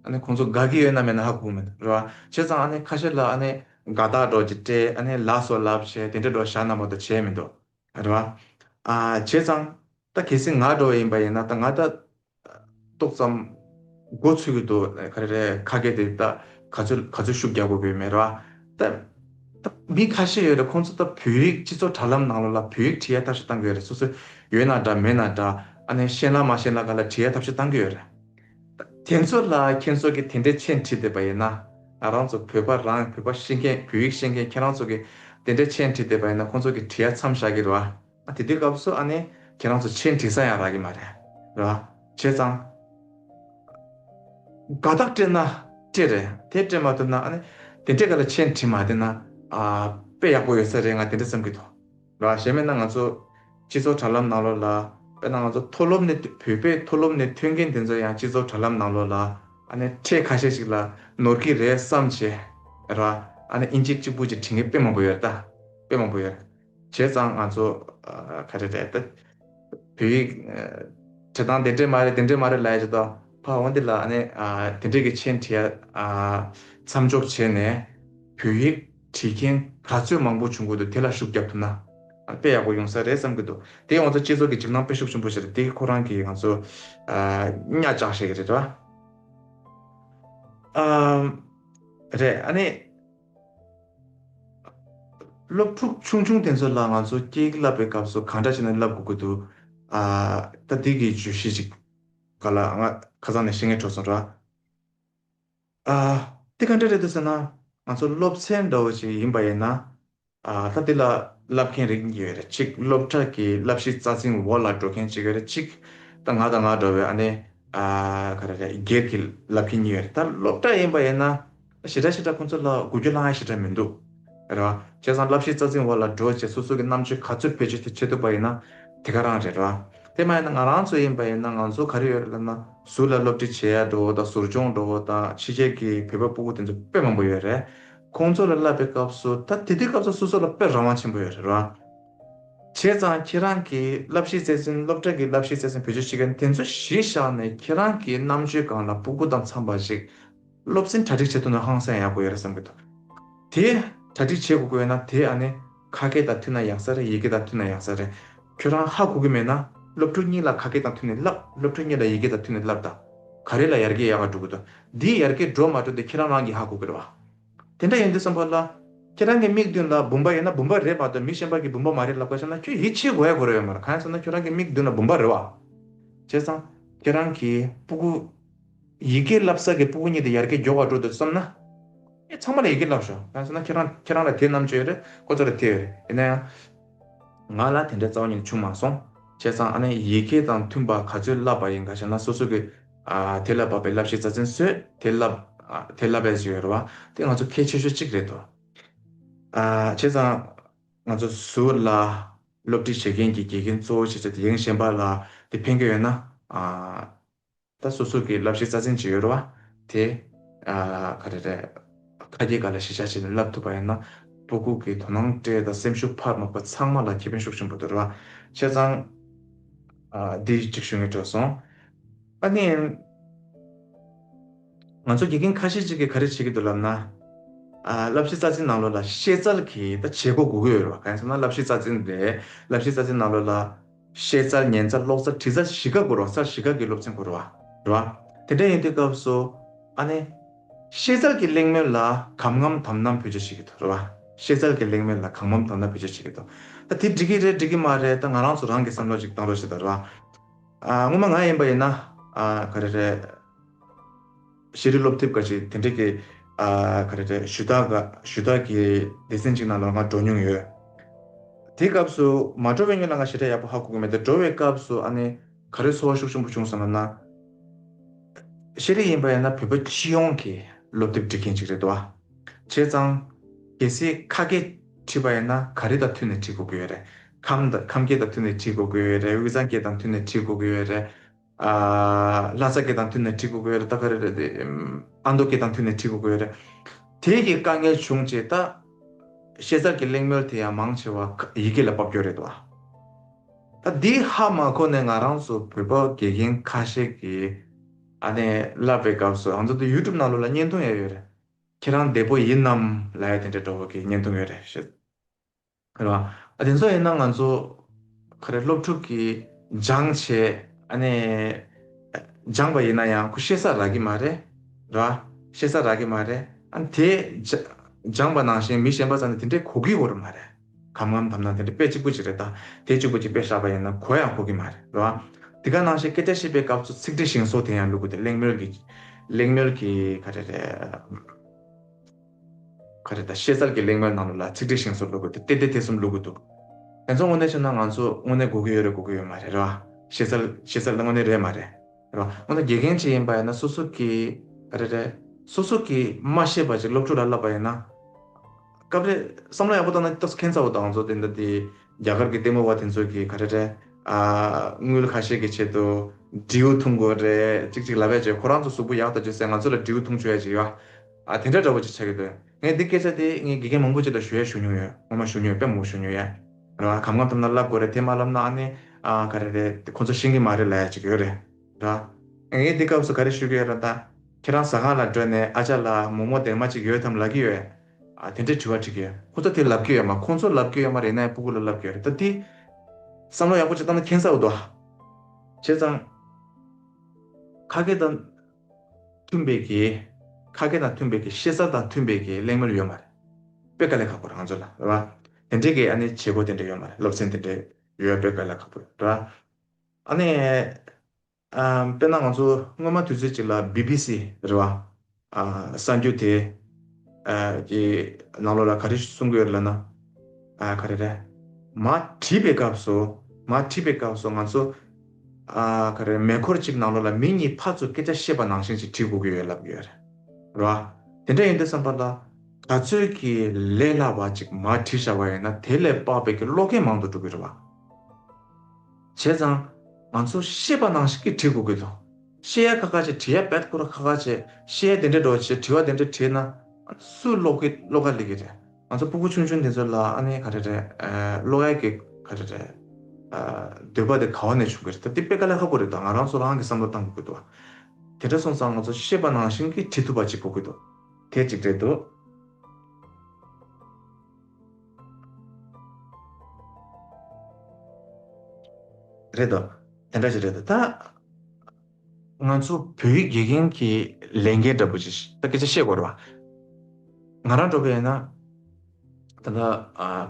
ཨ་ནི་ཁོང་ཚོ་དགའ་གི་ཡོད་ན་མེད་ན་ཧ་གོ་མི་འདུག་རེད་བ། བྱས་ཙང་ཨ་ནི་ཁ་ཤས་ལ་ཨ་ནི། དགའ་རྟགས་སྒྲོག་ཅིག་སྤྲད་ཨ་ནི་ལགས་སོ་ལབ་བྱས་དེ་འདྲས་འགྲོ་ཞག་ནང་པ་དུ་བྱས་མི་འདུག། རེད་བ། བྱས་ཙང། ད་གལ་སྲིད་ང་འགྲོ་བ་ཡིན་པ་ཡིན་ན་ད་ང་ད། ཏོག་ཙམ། མགོ་ཚོས་གི་འདུག་ད་ག་རེ་རེད་ཁ་སྐད་དེ་ད་ག་ཚོད་ག་ཚོད་ཤུགས་རྒྱག་དགོས་གི་མེད་རེད་བ། ད། ད་མི་ཁ་ཤས་ཡོད་རེད་ཁོང་ཚོ་ད་བོད་ཡིག་སྤྱི་ཚོགས་དྲ་ལམ་ནང་ལོ་ལ་བོད་ཡིག་བྲིས་ཡ་ཐབས་ཤེས་གཏང་གི་ཡོད་རེད་སོ་སོས་ཡོད་ན་འདྲ་མེད་ན་འདྲ་ཨ་ནས་ཤེས་ན་མ་ཤེས་ན་ག་ལ་བྲིས་ཡ་ཐབས་ཤེས་གཏང་གི་ཡོད་རེད། དེ་ཚོ་ལ་ཁྱེད་ཚོ་གི་དེ་འདྲའི་མཆན་བྲིས་བསྡད་པ་ཡིན་ན། ང་རང་ཚོ་བོད་པ་རང་བོད་པ་ཤེས་མཁན་བོད་ཡིག་ཤེས་མཁན་ཁྱེད་རང་ཚོ་གི་དེ་འདྲའི་མཆན་བྲིས་བསྡད་པ་ཡིན་ན་ཁོང་ཚོ་གི་བྲིས་ཡ་མཚམས་བཞག་གི་རེད་བ། དེ་དུས་སྐབས་སུ་ཨ་ནེ་ཁྱེད་རང་ཚོ་མཆན་བྲིས་ས་ཡང་རག་གི་མ་རེད་བ། བྱས་ཙང། དགའ་རྟགས་སྤྲད་ན་སྤྲད་རེད་དེ་སྤྲད་མ་ཐུབ་ན་ཨ་ནེ་དེ་འདྲས་ག་ལ་མཆན་བྲིས་མ་བསྡད་ན་དཔེ་ཡག་པོ་ཡོད་ས་རེད་ང་དེ་འདྲས་བསམ་གི་འདུག་གཞན་མེད་ན་ང་ཚོ་སྤྱི་ཚོགས་དྲ་ལམ་ནང་ལོགས་ལ་དཔེར་ན་ང་ཚོ་མཐོ་སློབ་ནས་བོད་པའི་མཐོ་སློབ་ནས་ཐོན་མཁན་དེ་ཚོ་ཡང་སྤྱི་ཚོགས་དྲ་ལམ་ནང་ལོགས་ལ་ཨ་ནེ་ཁྲས་ཁ་ཤས་ཤིག་ལ་ནོར་གི་རེད་བསམ་བྱས་ར་ཨ་ནེ་དབྱིན་ཇི་གཅིག་པུ་གཅིག་བྲིས་མཁན་དཔེ་མང་པོ་ཡོད་ད་དཔེ་མང་པོ་ཡོད་བྱས་ཙང་ང་ཚོ་ཁ་ཁྲས་ཁྲས་ད་བོད་ཡིག་བྲི་སྟངས་དེ་འདྲས་མ་རེད་དེ་འདྲས་མ་རེད་ལ་ཡ་བྱས་ད་ཕ་འོན་ཏེ་ལ་ཨ་ནེ་དེ་འདྲས་ཀྱི་མཆན་བྲིས་ཡ་མཚམས་འཇོག་བྱས་ནས་བོད་ཡིག། བྲིས་མཁན་ག་ཚོད་མང་པོ་བྱུང་གི་འདུག་དེ་ལ་ཤུགས་བརྒྱབ་ཐུབ་ན་དཔེ་ཡག་པོ་ཡོང་ས་རེད་བསམ་གི་འདུག་དེ་ཡོང་ཚ་སྤྱི་ཚོགས་ཀྱི་འཇིགས་སྣང་དཔེ་ཤུགས་ཆེན་པོ་བྱེད་དེ་ཁོ་རང་གི་ང་ཚོ་གཉའ་བཅག་བྱེད་ཀྱི་རེད་དྲ་རེད་ཨ་ནི། སློབ་ཕྲུག་ཆུང་ཆུང་དེ་ཚོ་ལ་ང་ཚོ་སྐྱེས་བསླབ་པའི་སྐབས་སུ་གང་འདྲ་བྱས་ནས་བསླབ་དགོས་ཀྱི་འདུག་ད་འདི་གི་བརྗོད་གཞི་ཅིག་ག་ལ་ང་ཁ་སང་ནས་ཤེས་ངེས་འཕྲོད་སོང་དྲ། ཨ། དེ་ག་འདྲ་རེད་འདུག་ཟེར་ན། ང་ཚོ་སློབ་ཚན་འདྲ་བོ་ཞིག་ཡིན་པ་ཡིན་ན། ད་དེ་ལ་བསླབ་མཁན་རིགས་གཉིས་ཡོད་རེད་གཅིག་སློབ་གྲྭ་གི་བསླབ་གཞི་རྩ་ཚིག་འོག་ལ་འགྲོ་མཁན་གཅིག་ཡོད་རེད་གཅིག་ད་ང་དང་ང་འདྲ་བའི་ཨ་ནེ། ག་རེ་རེད་སྒེར་གྱི་བསླབ་མཁན་གཉིས་ཡོད་རེད་ད་སློབ་གྲྭ་ཡིན་པ་ཡིན་ན། ཞེ་དྲག་ཞེ་དྲག་ཁོང་ཚོ་ལ་དགོས་རྒྱུ་བླ་ང་ཞེ་དྲག་མི་འདུག། ར། བྱས་ཙང་བསླབ་གཞི་རྩ་འཛིན་འོག་ལ་འགྲོ་བྱེད་སོ་སོ་གི་རྣམ་དཔྱོད་ག་ཚོད་བེད་སྤྱོད་བྱེད་ཐུབ་པ་ཡིན་ན་དེ་ག་རང་རེད་ར། དེ་མ་ཡིན་ན་ང་རང་ཚོ་ཡིན་པ་ཡིན་ན་ང་ཚོ་ག་རེ་ཡོད་རེད་ལབ་ན་ཟུར་ལ་སློབ་ཁྲིད་བྱེད་ཡར་འགྲོ་བོ་དང་ཟུར་སྦྱོང་འགྲོ་བོ་དང་ཕྱི་རྒྱལ་གྱི་བོད་པ་སྤུ་བོ་དེ་ཚོ་དཔེ་མང་པོ་ཡོད་རེད། ཁོང་ཚོ་ལ་བསླབ་པའི་སྐབས་སུ་ད་དེ་དུས་སྐབས་སུ་སོ་སོ་ལ་དཔེ་རང་དབང་ཆེན་པོ་ཡོད་རེད་ར། བྱས་ཙང་ཁྱེད་རང་གིས་བསླབ་གཞི་རྩ་འཛིན་སློབ་གྲྭ་གི་བསླབ་གཞི་རྩ་འཛིན་བེད་སྤྱོད་བྱེད་མཁན་དེ་ཚོ་གཞི་བཞག་ནས་ཁྱེད་རང་གིས་རྣམ་དཔྱོད་གང་ལ་སྤུ་གུ་དང་འཚམས་པ་ཞིག་སློབ་ཚན་གྲ་སྒྲིག་བྱེད་ཐུབ་ན་ཧང་སངས་ཡག་པོ་ཡོད་རེད་བསམ་གྱི་འདུག་དེ། གྲ་སྒྲིག་བྱེད་དགོས་ཀྱི་ཡོད་ན་དེ་ཨ་ནེ། ཁ་སྐད་དང་མཐུན་ན་ཡག་ས་རེད་ཡི་གེ་དང་མཐུན་ན་ཡག་ས་རེད། ཁྱོད་རང་ཧ་གོ་གི་མེད་ན། སློབ་ཕྲུག་གཉིས་ལ་ཁ་སྐད་དང་མཐུན་ནས་བསླབ། སློབ་ཕྲུག་གཉིས་ལ་ཡི་གེ་དང་མཐུན་ནས་བསླབ་དང། ག་རེ་ལ་ཡར་རྒྱས་ཡག་ག་འགྲོ་གི་འདུག་འདིའི་ཡར་རྒྱས་འགྲོ་མ་འགྲོ་དེ་ཁྱེད་རང་རང་གིས་ཧ་གོ་གི་རེད་བ། དེ་འདྲ་ཡིན་དུས་བསམ་ཕོད་ལ། ཁྱེད་རང་གི་མིག་མདུན་ལ་བུམ་པ་ཡོད་ན་བུམ་པ་རེད་བ་དང་མི་གཞན་པ་གིས་བུམ་པ་མ་རེད་ལབ་ཀ་བྱས་ན་ཁྱོད་ཡིད་ཆེས་གོ་ཡ་གོ་རེད་ཡོད་མ་རེད་གང་ཡིན་ཟེར་ན་ཁྱོད་རང་གི་མིག་མདུན་ལ་བུམ་པ་རེད་བ། བྱས་ཙང། ཁྱེད་རང་གིས་སྤུ་གུ། ཡི་གེ་བསླབ་ས་གི་སྤུ་གུ་གཉིས་དེ་ཡར་གེ་སྒྱོགས་བར་འགྲོ་འདུག་བསམ་ན། ངས་ཚང་མ་ལ་ཡི་གེ་བསླབ་ཞོར་ང་སོང་ན་ཁྱེད་རང་ཁྱེད་རང་ལ་དེ་རྣམས་བྱོས་རེད་ཁོ་ཚོ་ལ་དེ་ཡོད་རེད་ཡིན་ན་ཡང། ང་ལ་དེ་འདྲའི་རྩ་བ་ཉིད་བྱུང་མ་སོང། བྱས་ཙང་ཨ་ནེ་ཡི་གེ་དང་མཐུན་པ་ག་ཚོད་བསླབ་པ་ཡིན་ག་ཞེ་ན་སོ་སོ་གི་དེ་ལ་བབ་པའི་བསླབ་གཞི་རྩ་ཚིན་སོས་དེ་བསླབ་དེ་བསླབ་པའི་ཟེར་ཡོད་རེད་བ་དེ་ང་ཚོ་གལ་ཆེ་ཤོས་གཅིག་རེད་དོ། བྱས་ཙང་ང་ཚོ་ཟུར་ལ་སློབ་ཁྲིད་བྱེད་མཁན་གྱི་དགེ་རྒན་གཙོ་བོ་བྱས་ཚོད་དེ་ཡེངས་ཞེན་པ་ལ་དེ་ཕན་གི་ཡོད་ན། ད་སོ་སོ་གི་བསླབ་གཞི་རྩ་ཚན་ཅི་ཡོད་ར་བ་དེ། ག་རེ་རེད། ཁ་གྱེས་ག་ལ་ཞེ་བྱ་བྱས་ནས་བསླབ་ཐུབ་པ་ཡིན་ན། པོ་སྒུག་གི་དོ་སྣང་སྤྲེལ་དང་སེམས་ཤུགས་འཕར་དམག་པ་ཚང་མ་ལ་ཁེ་ཕན་ཤུགས་ཆེན་པོ་འདུག་ར་བ། བྱས་ཙང། འདི་ཅིག་ཞུ་ངེས་འཕྲོད་སོང། ཨ་ནི། ང་ཚོ་དགེ་རྒན་ཁ་ཤས་ཅིག་གིས་ག་རེ་བྱེད་ཀྱི་འདུག་ལབ་ན། བསླབ་གཞི་རྩ་ཚན་ནང་ལོ་ལ་ཤེས་ཚལ་གྱིས་ད་བྱེད་སྒོ་སྒུག་གི་ཡོད་ར་བ་ག་ཡིན་ཟེར་ན་བསླབ་གཞི་རྩ་ཚན་རེད་བསླབ་གཞི་རྩ་ཚན་ནང་ལོ་ལ་ཤེལ་རྩྭ་ཉན་རྩྭ་གློག་རྩྭ་དྲི་རྩྭ་བཞི་ཀ་གོ་རོ་རྩྭ་བཞི་ཀ་གི་སློབ་ཚན་གོ་རོ། དེ་འདྲ་ཡིན་དུས་སྐབས་སུ། ཨ་ནེ། ཤེལ་རྩྭ་གི་གླེང་མོལ་ལ་གམ་ངམ་དམ་ནམ་བོད་ཆས་བྱེད་ཀྱི་འདུག་རེད་བ། ཤེལ་རྩྭ་གི་གླེང་མོལ་ལ་གམ་ངམ་དམ་ནམ་བོད་ཆས་བྱེད་ཀྱི་འདུག་ད་དེ་འགྲིག་གི་རེད་འགྲིག་གི་མ་རེད་ད་ང་རང་ཚོ་རང་གིས་བསམ་བློ་ཅིག་བཏང་རོགས་བྱེད་དོ་རེད་བ། ཨ། སྔོན་མ་ང་ཡིན་པ་ཡིན་ན། ཨ། ག་རེ་རེད། ཤེས་རིག་སློབ་དེབ་འགའ་ཞིག་དེ་འབྲེལ་གྱི། ག་རེ་རེད་ཞུ་དག་ཞུ་དག་གི་སྡེ་ཚན་གཅིག་ནང་ལོར་ང་འགྲོ་མྱོང་ཡོད། དེའི་སྐབས་སུ་མ་འགྲོ་བའི་སྔོན་ལ་ང་ཞེ་དྲག་ཡག་པོ་ཧ་གོ་གི་མེད་དེ་འགྲོ་བའི་སྐབས་སུ་ཨ་ནི། ག་རེ་ཚོར་བ་ཤུགས་ཆེན་པོ་བྱུང་སོང་ང་ན། ཤེས་རིག་ཡིན་པ་ཡིན་ན་བོད་པ་སྤྱི་ཡོངས་ཀྱི་སློབ་དེབ་འབྲི་མཁན་ཅིག་རེད་དོ། བྱས་ཙང། གལ་སྲིད་ཁ་སྐད་བྲིས་པ་ཡིན་ན་ག་རེ་དང་མཐུན་ནས་བྲིས་དགོས་ཀྱི་ཡོད་རེད། ཁམས་སྐད་དང་མཐུན་ནས་བྲིས་དགོས་ཀྱི་ཡོད་རེད་དབུས་གཙང་སྐད་དང་མཐུན་ནས་བྲིས་དགོས་ཀྱི་ཡོད་རེད། ལྷ་ས་སྐད་དང་མཐུན་ནས་བྲིས་དགོས་ཀྱི་ཡོད་རེད་ད་ག་རེ་རེད་དེ། ཨ་མདོ་སྐད་དང་མཐུན་ནས་བྲིས་དགོས་ཀྱི་ཡོད་རེད། དེ་གི་དཀའ་ངལ་བྱུང་རྗེས་ད། ཤེས་ཚར་གྱི་གླེང་མོལ་དེ་ཡང་མང་ཆེ་བ་ཡི་གེ་ལ་དཔབ་རྒྱུ་རེད་བ། ད་འདི་ཧ་མ་གོ་ནས་ང་རང་ཚོ་བོད་པ་དགེ་རྒན་ཁ་ཤས་ཀྱིས་ཨ་ནེ་བསླབ་པའི་སྐབས་སུ་ཨ་མདོ་དུ YouTube ནང་ལོ་ལ་བརྙན་ཐུང་ཡ་ཡོད་རེད། ཁྱེད་རང་བདེ་པོ་ཡིན་ནམ་ལ་ཡ་དེ་འདྲའི་འགྲོ་བ་གི་བརྙན་ཐུང་ཡོད་རེད་བཤད། ཁ་ར། ཨ་དེ་ཚོ་ཡིན་ན་ང་ཚོ། ཁ་རས་སློབ་ཕྲུག་གིས་སྦྱངས་བྱས། ཨ་ནས། སྦྱངས་པ་ཡིན་ན་ཡང་ཁོ་ཤེས་ས་རག་གི་མ་རེད། ར། ཤེས་ས་རག་གི་མ་རེད། ཨ་ནས་དེ། སྦྱངས་པ་ནང་བཞིན་མི་གཞན་པ་ཚང་ནས་དེ་འདྲས་གོ་གི་འོར་མ་རེད། གམ་ངམ་དམ་ནང་དེ་འདྲས་དཔེ་གཅིག་པོ་གཅིག་རེད་ད། དེ་གཅིག་པོ་གཅིག་དཔེ་ཧྲག་པ་ཡིན་ན་གོ་ཡང་གོ་གི་མ་རེད། ར། དེ་ག་ནང་བཞིན་སྐད་ཆ་ཤེས་པའི་སྐབས་ཚུ་ཚིག་འབྲི་བཞེངས་སོགས་དེ་ཡང་ལུགས་དེ་གླེང་མོལ་གི། གླེང་མོལ་གི་ཁ་རེ་རེད། ག་རེ་ད་ཤེས་ཚར་གི་གླེང་མོལ་གནང་འདུག་ལ་ཚིག་འགྲིག་ཞིང་བཟོ་བླུག་གི་འདུག་བལྟས་བལྟས་དེ་གསུམ་བླུག་གི་འདུག། དེ་ཚོ་དངོས་གནས་བྱས་ན་ང་ཚོ་དངོས་གནས་སྒུག་གི་ཡོད་རེད་སྒུག་གི་ཡོད་མ་རེད་རེད་བ། ཤེས་ཚར་ཤེས་ཚར་དངོས་གནས་རེད་མ་རེད་རེད་བ། དངོས་གནས་དགེ་རྒན་ཅིག་ཡིན་པ་ཡིན་ན་སོ་སོ་གི་ག་རེ་རེད། སོ་སོ་གི་མ་ཤེས་པ་ཅིག་སློབ་ཕྲུག་ལ་བསླབ་པ་ཡིན་ན། སྐབས་རེ་བསམ་བློ་ཡག་པོ་བཏང་ན་རྟགས་སུ་མཁྱེན་ཚར་བ་འདུག་ང་ཚོ་དེ་འདྲ་དེ་རྒྱ་གར་གི་ལྟད་མོ་བ་དེ་ཚོ་གི་ག་རེ་རེད། དངུལ་ཁ་ཤས་ཀྱི་ཆེད་དུ་འབྲིའུ་འཐུང་དགོས་རེད་ཅིག་ཅིག་ལབ་ཡ་བྱས་ཁོ་རང་ཚོ་གཟུགས་པོ་ཡག་ལྟ་བྱོས་ཟེར་ང་ཚོ་ལ་འབྲིའུ་འཐུང་བྱོས་ཡ་བྱས་ཡོད་བ། ཨ་དེ་འདྲ་འདྲ་བོ་ཅིག་ཆགས་ཀྱི་འདུག་ངས་འདི་སྐད་ཆ་དེ་ངའི་དགེ་རྒན་མང་པོ་ཅིག་ལ་ཞུ་ཡ་ཞུ་མྱོང་ཡོད་ངོ་མ་ཞུ་མྱོང་ཡོད་དཔེ་མང་པོ་ཞུ་མྱོང་ཡོད་རེད་བ་གམ་གང་ཐུབ་ན་བསླབ་དགོས་རེད་དེ་མ་བསླབ་ན་ཨ་ནི་ཨ་ག་རེ་རེད་ཁོ་ཚོ་ཤེས་ཀྱི་མ་རེད་ལ་ཡ་ཅིག་ཡོད་རེད་བ། ངས་འདི་སྐབས་སུ་ག་རེ་ཞུ་གི་ཡོད་ར་ད་ཁྱེད་རང་ཟ་ཁང་ལ་བགྲོད་ནས་ཨ་ཅག་ལ་མོག་མོག་དེར་མ་ཅིག་ཡོད་དམ་ལབ་ཀྱི་ཡོད་ཨ་དེ་འདྲའི་དྲི་བ་དྲི་གི་ཡོད། ཁོ་ཚོ་དེ་ལབ་ཀྱི་ཡོད་མ་ཁོང་ཚོ་ལབ་ཀྱི་ཡོད་མ་རེད་ནའི་སྤུ་གུ་ལ་ལབ་ཀྱི་ཡོད་རེད་ད་དེ། བསམ་བློ་ཡག་པོ་ཅིག་བཏང་ན་ཁྱེད་ཚ་འུ་དུ་ཨ། བྱས་ཙང། ཁ་སྐད་དང། མཐུན་པའི་གེ། ཁ་སྐད་དང་མཐུན་པའི་གེ་ཤེས་ཚར་དང་མཐུན་པའི་གེ་གླེང་མོལ་ཡོད་མ་རེད། དཔེ་དཀའ་ལས་ཁག་པོ་རང་ཚོ་ལ་རེད་བ། དེ་འདྲའི་གེ་ཨ་ནི་བྱེད་སྒོ་དེ་འདྲ་ཡོད་མ་རེད་སློབ་ཚན་དེ་འདྲ་ཡོད་དཔེ་དཀའ་ལས་ཁག་པོ་རེད་བ། ཨ་ནི། དཔེར་ན་ང་ཚོ་སྔོན་མ་དུས་ཚོད་ཅིག་ལ་སྦི་སྦི་སི་རེད་བ། གསར་འགྱུར་དེ། གི་ནང་ལོགས་ལ་ག་རེ་གསུང་གི་ཡོད་རེད་ལབ་ན། ག་རེ་རེད། མ་བྲིས་པའི་སྐབས་སུ་མ་བྲིས་པའི་སྐབས་སུ་ང་ཚོ། ག་རེ། མེ་འཁོར་གཅིག་ནང་ལོགས་ལ་མི་གཉིས་ཕར་ཚུར་སྐད་ཆ་བཤད་པ་ནང་བཞིན་ཅིག་བྲིས་དགོས་ཀྱི་ཡོད་ལབ་ཀྱི་ཡོད་རེད་ར། དེ་འདྲ་ཡིན་འདུག་བསམ་པ་ལ། ག་ཚོད་ཀྱིས་ལས་སླ་བ་ཅིག་མ་བྲིས་བཞག་པ་ཡིན་ན་དེ་ལས་དཔག་པའི་ཀྱི་ཀློག་མཁན་མང་དུ་འགྲོ་གི་རེད་བ། བྱས་ཙང། ང་ཚོ་ཤེས་པ་ནང་བཞིན་གྱིས་བྲིས་དགོས་ཀྱི་འདུག་ཤེས་ཡ་ཁ་ཁ་བྱས་བྲིས་ཡ་བེད་ཁུ་ར་ཁ་ཁ་བྱས་ཤེས་ཡ་དེ་འདྲས་འགྲོ་བྱས་བྲིས་བ་དེ་འདྲས་བྲིས་ན། སུས་ཀློག་གི་ཀློག་ག་ལེགས་ཀྱི་རེད། ང་ཚོ་སྤུ་སྤུ་ཆུང་ཆུང་དེ་ཚོ་ལ་ཨ་ནེ་ག་རེ་རེད། བློ་ཡ་གི་ག་རེ་རེད། འདོད་པ་དེ་ག་བ་ནས་བྱུང་གི་རེད་དམ། དེ་དཔེ་ག་ལེར་ཧ་གོ་རེད་དོ། ང་རང་ཚོ་རང་གི་བསམ་བློ་གཏང་དགོས་ཀྱི་འདུག། དེ་འདྲ་སོང་ཙང་ང་ཚོ་ཤེས་པ་ནང་བཞིན་གྱི་བྲིས་ཐུབ་པ་ཅིག་གོ་གི་འདུག། དེ་ཅིག་རེད་དོ། རེད་དོ། དེ་འདྲ་ཅིག་རེད་དོ། ད། ང་ཚོ་བོད་ཡིག་དགེ་རྒན་གྱི་ལས་འགན་འདྲ་པོ་ཞིག་ད་སྐད་ཆ་བཤད་དགོས་རེད་བ། ང་རང་འགྲོ་པའི་ཡིན་ན། ད་ལྟ་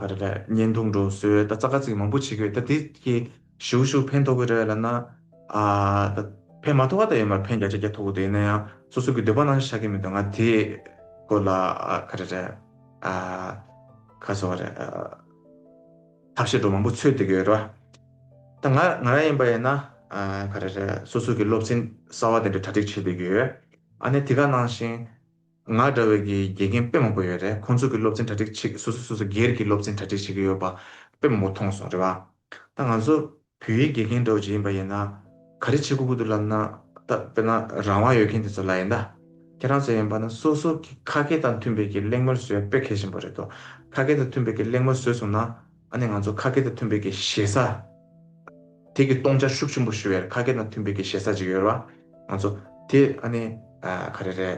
ག་རེ་རེད་བརྙན་ཐུང་འགྲོ་བཟོས་ད་རྩ་ཁ་ཚིག་མང་པོ་བྱེད་དགོས་ད་དེ་གི་ཞུ་གུ་ཞུ་གུ་ཕན་ཐོགས་གི་རེད་ལབ་ན། ད་ཕན་མ་ཐོགས་ཁ་ད་ཡོད་མ་རེད་ཕན་བརྒྱ་ཆ་བརྒྱ་ཐོགས་གི་འདུག་ཡིན་ན་ཡང་སོ་སོ་གི་འདོད་པ་རྣམས་བཞག་གི་མི་འདུག་ང་དེ་སྐོར་ལ་ག་རེ་རེད་ཁ་བཟོ་བ་རེད། ཐབས་ཤེས་སྒྲོ་མང་པོ་འཚོལ་བསྡད་ཀྱི་ཡོད་རེད་བ། ད་ང་ང་རང་ཡིན་པ་ཡིན་ན། ག་རེ་རེད་སོ་སོ་གྱི་སློབ་ཚན་གསར་བ་དེ་འདྲ་གྲ་སྒྲིག་བྱེད་བསྡད་ཀྱི་ཡོད། ཨ་ནེ་དེ་ག་ནང་བཞིན། ང་འདྲ་བའི་གི་དགེ་རྒན་དཔེ་མང་པོ་ཡོད་རེད་ཁོང་ཚོ་གྱི་སློབ་ཚན་གྲ་སྒྲིག་བྱེད་སོ་སོ་སོ་སོ་སྒེར་གྱི་སློབ་ཚན་གྲ་སྒྲིག་བྱེད་ཀྱི་ཡོད་པ་དཔེ་མང་པོ་མཐོང་སོང་རེད་བ། ད་ང་ཚོ། བོད་ཡིག་དགེ་རྒན་རྡོ་རྗེ་ཡིན་པ་ཡིན་ན། ག་རེ་བྱེད་དགོས་གི་འདུག་ལབ་ན། ད་དཔེར་ན་རང་དབང་ཡོད་མཁན་དེ་ཚོ་ལ་ཡིན་ད། ཁྱེད་རང་ཚོ་ཡིན་པ་ན་སོ་སོ་གི་ཁ་སྐད་དང་མཐུན་པའི་གི་གླེང་མོལ་བཟོས་ཡ་དཔེ་གལ་ཆེན་པོ་རེད་དོ། ཁ་སྐད་དང་མཐུན་པའི་གི་གླེང་མོལ་བཟོས་སོང་ན། ཨ་ནི་ང་ཚོ་ཁ་སྐད་དང་མཐུན་པའི་གི་ཞེ་ས། དེ་གི་སྟོང་ཆ་ཤུགས་ཆེན་པོ་ཞུ་བའི་ཁ་སྐད་དང་མཐུན་པའི་གི་ཞེ་ས་ཅིག་ཡོད་ར། ང་ཚོ་དེ་ཨ་ནི། ག་རེ་རེད།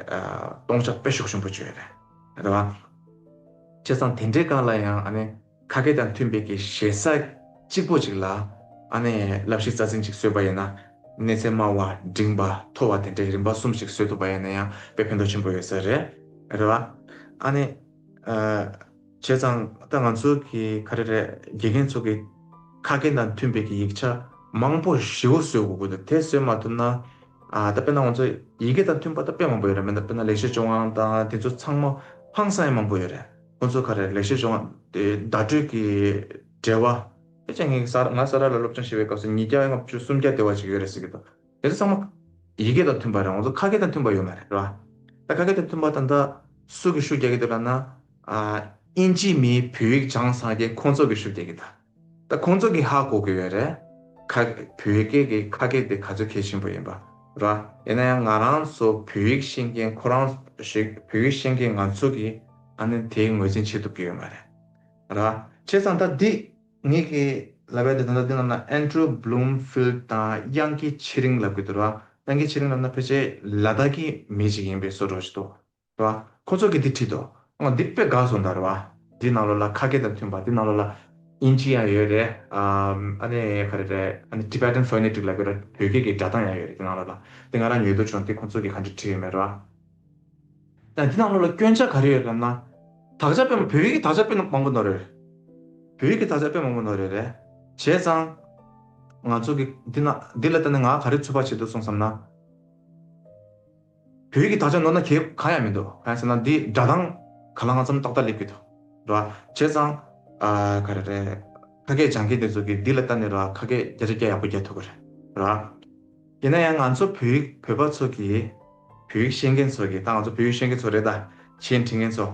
སྟོང་ཆ་དཔེ་ཤུགས་ཆེན་པོ་བྱོས་རེད། རེད་བ། བྱས་ཙང་དེ་འདྲའི་སྒང་ལ་ཡང་ཨ་ནི། ཁ་སྐད་དང་མཐུན་པའི་གི་ཞེ་ས་གཅིག་པོ་ཅིག་ལ་ཨ་ནེ་བསླབ་གཞི་རྩ་འཛིན་ཅིག་བཟོས་པ་ཡིན་ན་གནས་ཚད་དམའ་བ་འབྲིང་བ་མཐོ་བ་དེ་འདྲའི་རིམ་པ་གསུམ་ཞིག་བཟོས་ཐུབ་པ་ཡིན་ན་ཡང་དཔེ་ཕན་ཐོགས་ཆེན་པོ་ཡོད་ས་རེད་རེད་བ། ཨ་ནེ། བྱས་ཙང་ད་ང་ཚོ་གི་ག་རེ་རེད་དགེ་རྒན་ཚོ་གི་ཁ་སྐད་དང་མཐུན་པའི་གི་ཡིག་ཆ་མང་པོ་བཞི་བོ་བཟོས་དགོས་གི་འདུག་དེ་བཟོས་མ་ཐུབ་ན་ད་དཔེ་ན་ང་ཚོ་ཡི་གེ་དང་མཐུན་པ་ད་དཔེ་མང་པོ་ཡོད་རེད་མིན་ད་དཔེ་ན་ལེགས་བཤད་ཅོ་ཝང་དང་དེ་ཚོ་ཚང་མ་ཧང་སངས་ཡས་མང་པོ་ཡོད་རེད། ཁོ་ཚོ་ཁ་རས་ལེགས་བཤད་བྱུང། བརྡ་སྤྲོད་ཀྱི་བྲེལ་བ། ཁྱེད་ཀྱིས་ངས་ང་ས་རཱ་ལ་སློབ་སྦྱོང་བྱེད་པའི་སྐབས་སུ་ཉིས་བརྒྱ་ལྔ་བཅུ་སུམ་བརྒྱ་དེ་བ་ཞིག་ཡོད་རེད་ཟེར་གྱི་འདུག་དེ་ཚོ་ཚང་མ། ཡི་གེ་དང་མཐུན་པ་རེད་འོང་ཚོ་ཁ་སྐད་དང་མཐུན་པ་ཡོད་མ་རེད་རེད་བ། ད་ཁ་སྐད་དང་མཐུན་པ་དང་ད། སུ་གི་ཤུགས་རྒྱག་གི་འདུག་ལབ་ན། ཨིན་ཇིའི་མིའི་བོད་ཡིག་བྱང་ཚང་རྒྱལ་ཁོང་ཚོ་གི་ཤུགས་རྒྱག་གི་ད། ད་ཁོང་ཚོ་གི་ཧ་གོ་གི་ཡོད་རེད། ཁ། བོད་སྐད་ཀྱི་ཁ་སྐད་དེ་ག་ཚོད་མཁས་ཆེན་པོ་ཡིན་པ། ར། ཡིན་ན་ཡང་ང་རང་ཚོ་བོད་ཡིག་ཤེས་མཁན་ཁོ་རང། ཞིག་བོད་ཡིག་ཤེས་མཁན་ང་ཚོ་གི། ཨ་ནི་དེའི་ངོས་འཛིན་བྱེད་ཐུབ་ཀྱི་ཡོད་མ་རེད། ར། བྱས་ཙང་ད་འདི། ངེད་ཀྱི། ལབ་ཡ་དེ་ད་ལྟ་འདི་རྣམས་ན Andrew Bloomfield དང་དབྱངས་སྐྱིད་ཆེ་རིང་ལབ་ཀྱི་འདུག་ར། དབྱངས་སྐྱིད་ཆེ་རིང་ལབ་ན་ཕལ་ཆེར་ལ་དྭགས་ཀྱི་མི་ཞིག་ཡིན་པའི་བཟོ་བྲོ་ཞིག་འདུག། རེད་བ། ཁོ་ཚོ་གིས་དེ་བྲིས་འདུག་ཨང་འདི་དཔེ་དགའ་སོང་ད་རེད་བ། འདི་ནང་ལོ་ལ་ཁ་སྐད་དང་མཐུན་པ་འདི་ནང་ལོ་ལ། དབྱིན་ཇི་ཡང་ཡོད་རེད། ཨ་ནི་ག་རེ་རེད་ཨ་ནི Tibetan Phonetic ལབ་ཡོད་རེད་བོད་སྐད་ཀྱི་སྒྲ་གདངས་ཡང་ཡོད་རེད་འདི་ནང་ལོ་ལ། འདི་ང་རང་ཉོས་འདུག་བྱུང་དེ་ཁོ་ཚོ་གིས་གང་བྲིས་བྲིས་ཡོད་མེད་རེད་བ། ཡང་འདི་ནང་ལོ་ལ་སྐྱོན་ཆ་ག་རེ་ཡོད་རེད་ན། དག་ཆ་དཔེ་མ་བོད་ཡིག་གི་དག་ཆ་དཔེ་མང་པོ་ནོར་ཡོད་རེད། བོད་ཡིག་གི་དག་ཆ་དཔེ་མང་པོ་ནོར་ཡོད་རེད། བྱས་ཙང། ང་ཚོ་གིས་འདི་ནང་འདི་ལ་ལྟ་ནས་ང་ག་རེ་ཚོད་དཔག་བྱེད་འདུག་སོང་བསམ་ན། བོད་ཀྱི་དག་ཆ་ནོར་ན་གལ་གང་ཡང་མི་འདུག་གང་ཡིན་ཟེར་ན་འདི་སྒྲ་གདངས་ག་ལ་ང་ཚོམ་ཏག་ཏག་སླེབས་ཀྱི་འདུག་རེད་བ། བྱས་ཙང། ག་རེ་རེད། ཁ་སྐད་སྦྱང་མཁན་དེ་ཚོ་གིས་འདི་ལ་ལྟ་ནས་རེད་བ་ཁ་སྐད་བརྒྱ་ཆ་བརྒྱ་ཡག་པོ་རྒྱག་ཐུབ་ཀྱི་རེད་བ། ཡིན་ན་ཡང་ང་ཚོ་བོད་ཡིག་བོད་པ་ཚོ་གིས། བོད་ཡིག་ཤེས་མཁན་ཚོ་གིས་ད་ང་ཚོ་བོད་ཡིག་ཤེས་མཁན་ཚོ་རེད་ད། ཆེས་འཕྲིན་མཁན་ཚོ།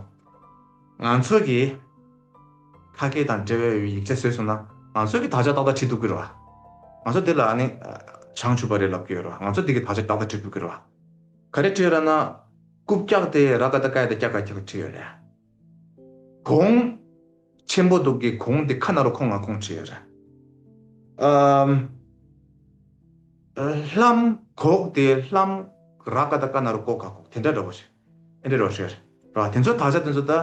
ང་ཚོ་གིས། ཁ་སྐད་དང་འབྲེལ་བའི་ཡིག་ཆ་བཟོས་སོང་ན་ང་ཚོས་གི་དག་ཆ་ཏག་ཏག་བྲིས་འདུག་གི་རེད་བ། ང་ཚོ་དེ་ལ་ནི་བྱང་ཆུབ་པ་རེད་ལབ་གི་ཡོད་རེད་བ་ང་ཚོས་དེ་གི་དག་ཆ་ཏག་ཏག་བྲིས་འདུག་གི་རེད་བ། ག་རེ་བྲིས་ཡོད་ར་ན། རྐུབ་བཀྱག་དེ་ར་ག་ད་ཀའི་ད་ཀྱག་ཀ་ཀྱག་བྲིས་ཡོད་རེད། གོང། ཆེན་པོ་འདུག་གི་གོང་དེ་ཁ་ན་རོ་ཁོང་ང་ཁོང་བྲིས་ཡོད་རེད། ཨམ། ལྷམ། གོག་དེ་ལྷམ། ར་ག་ད་ཀ་ན་རོ་ཀོག་ཀ་ཀོག་དེ་འདྲ་རེད་བ། ཨེ་འདྲའི་རོ་ཤེར། རེད་བ། དེ་ཚོ་དག་ཆ་དེ་ཚོ་ད།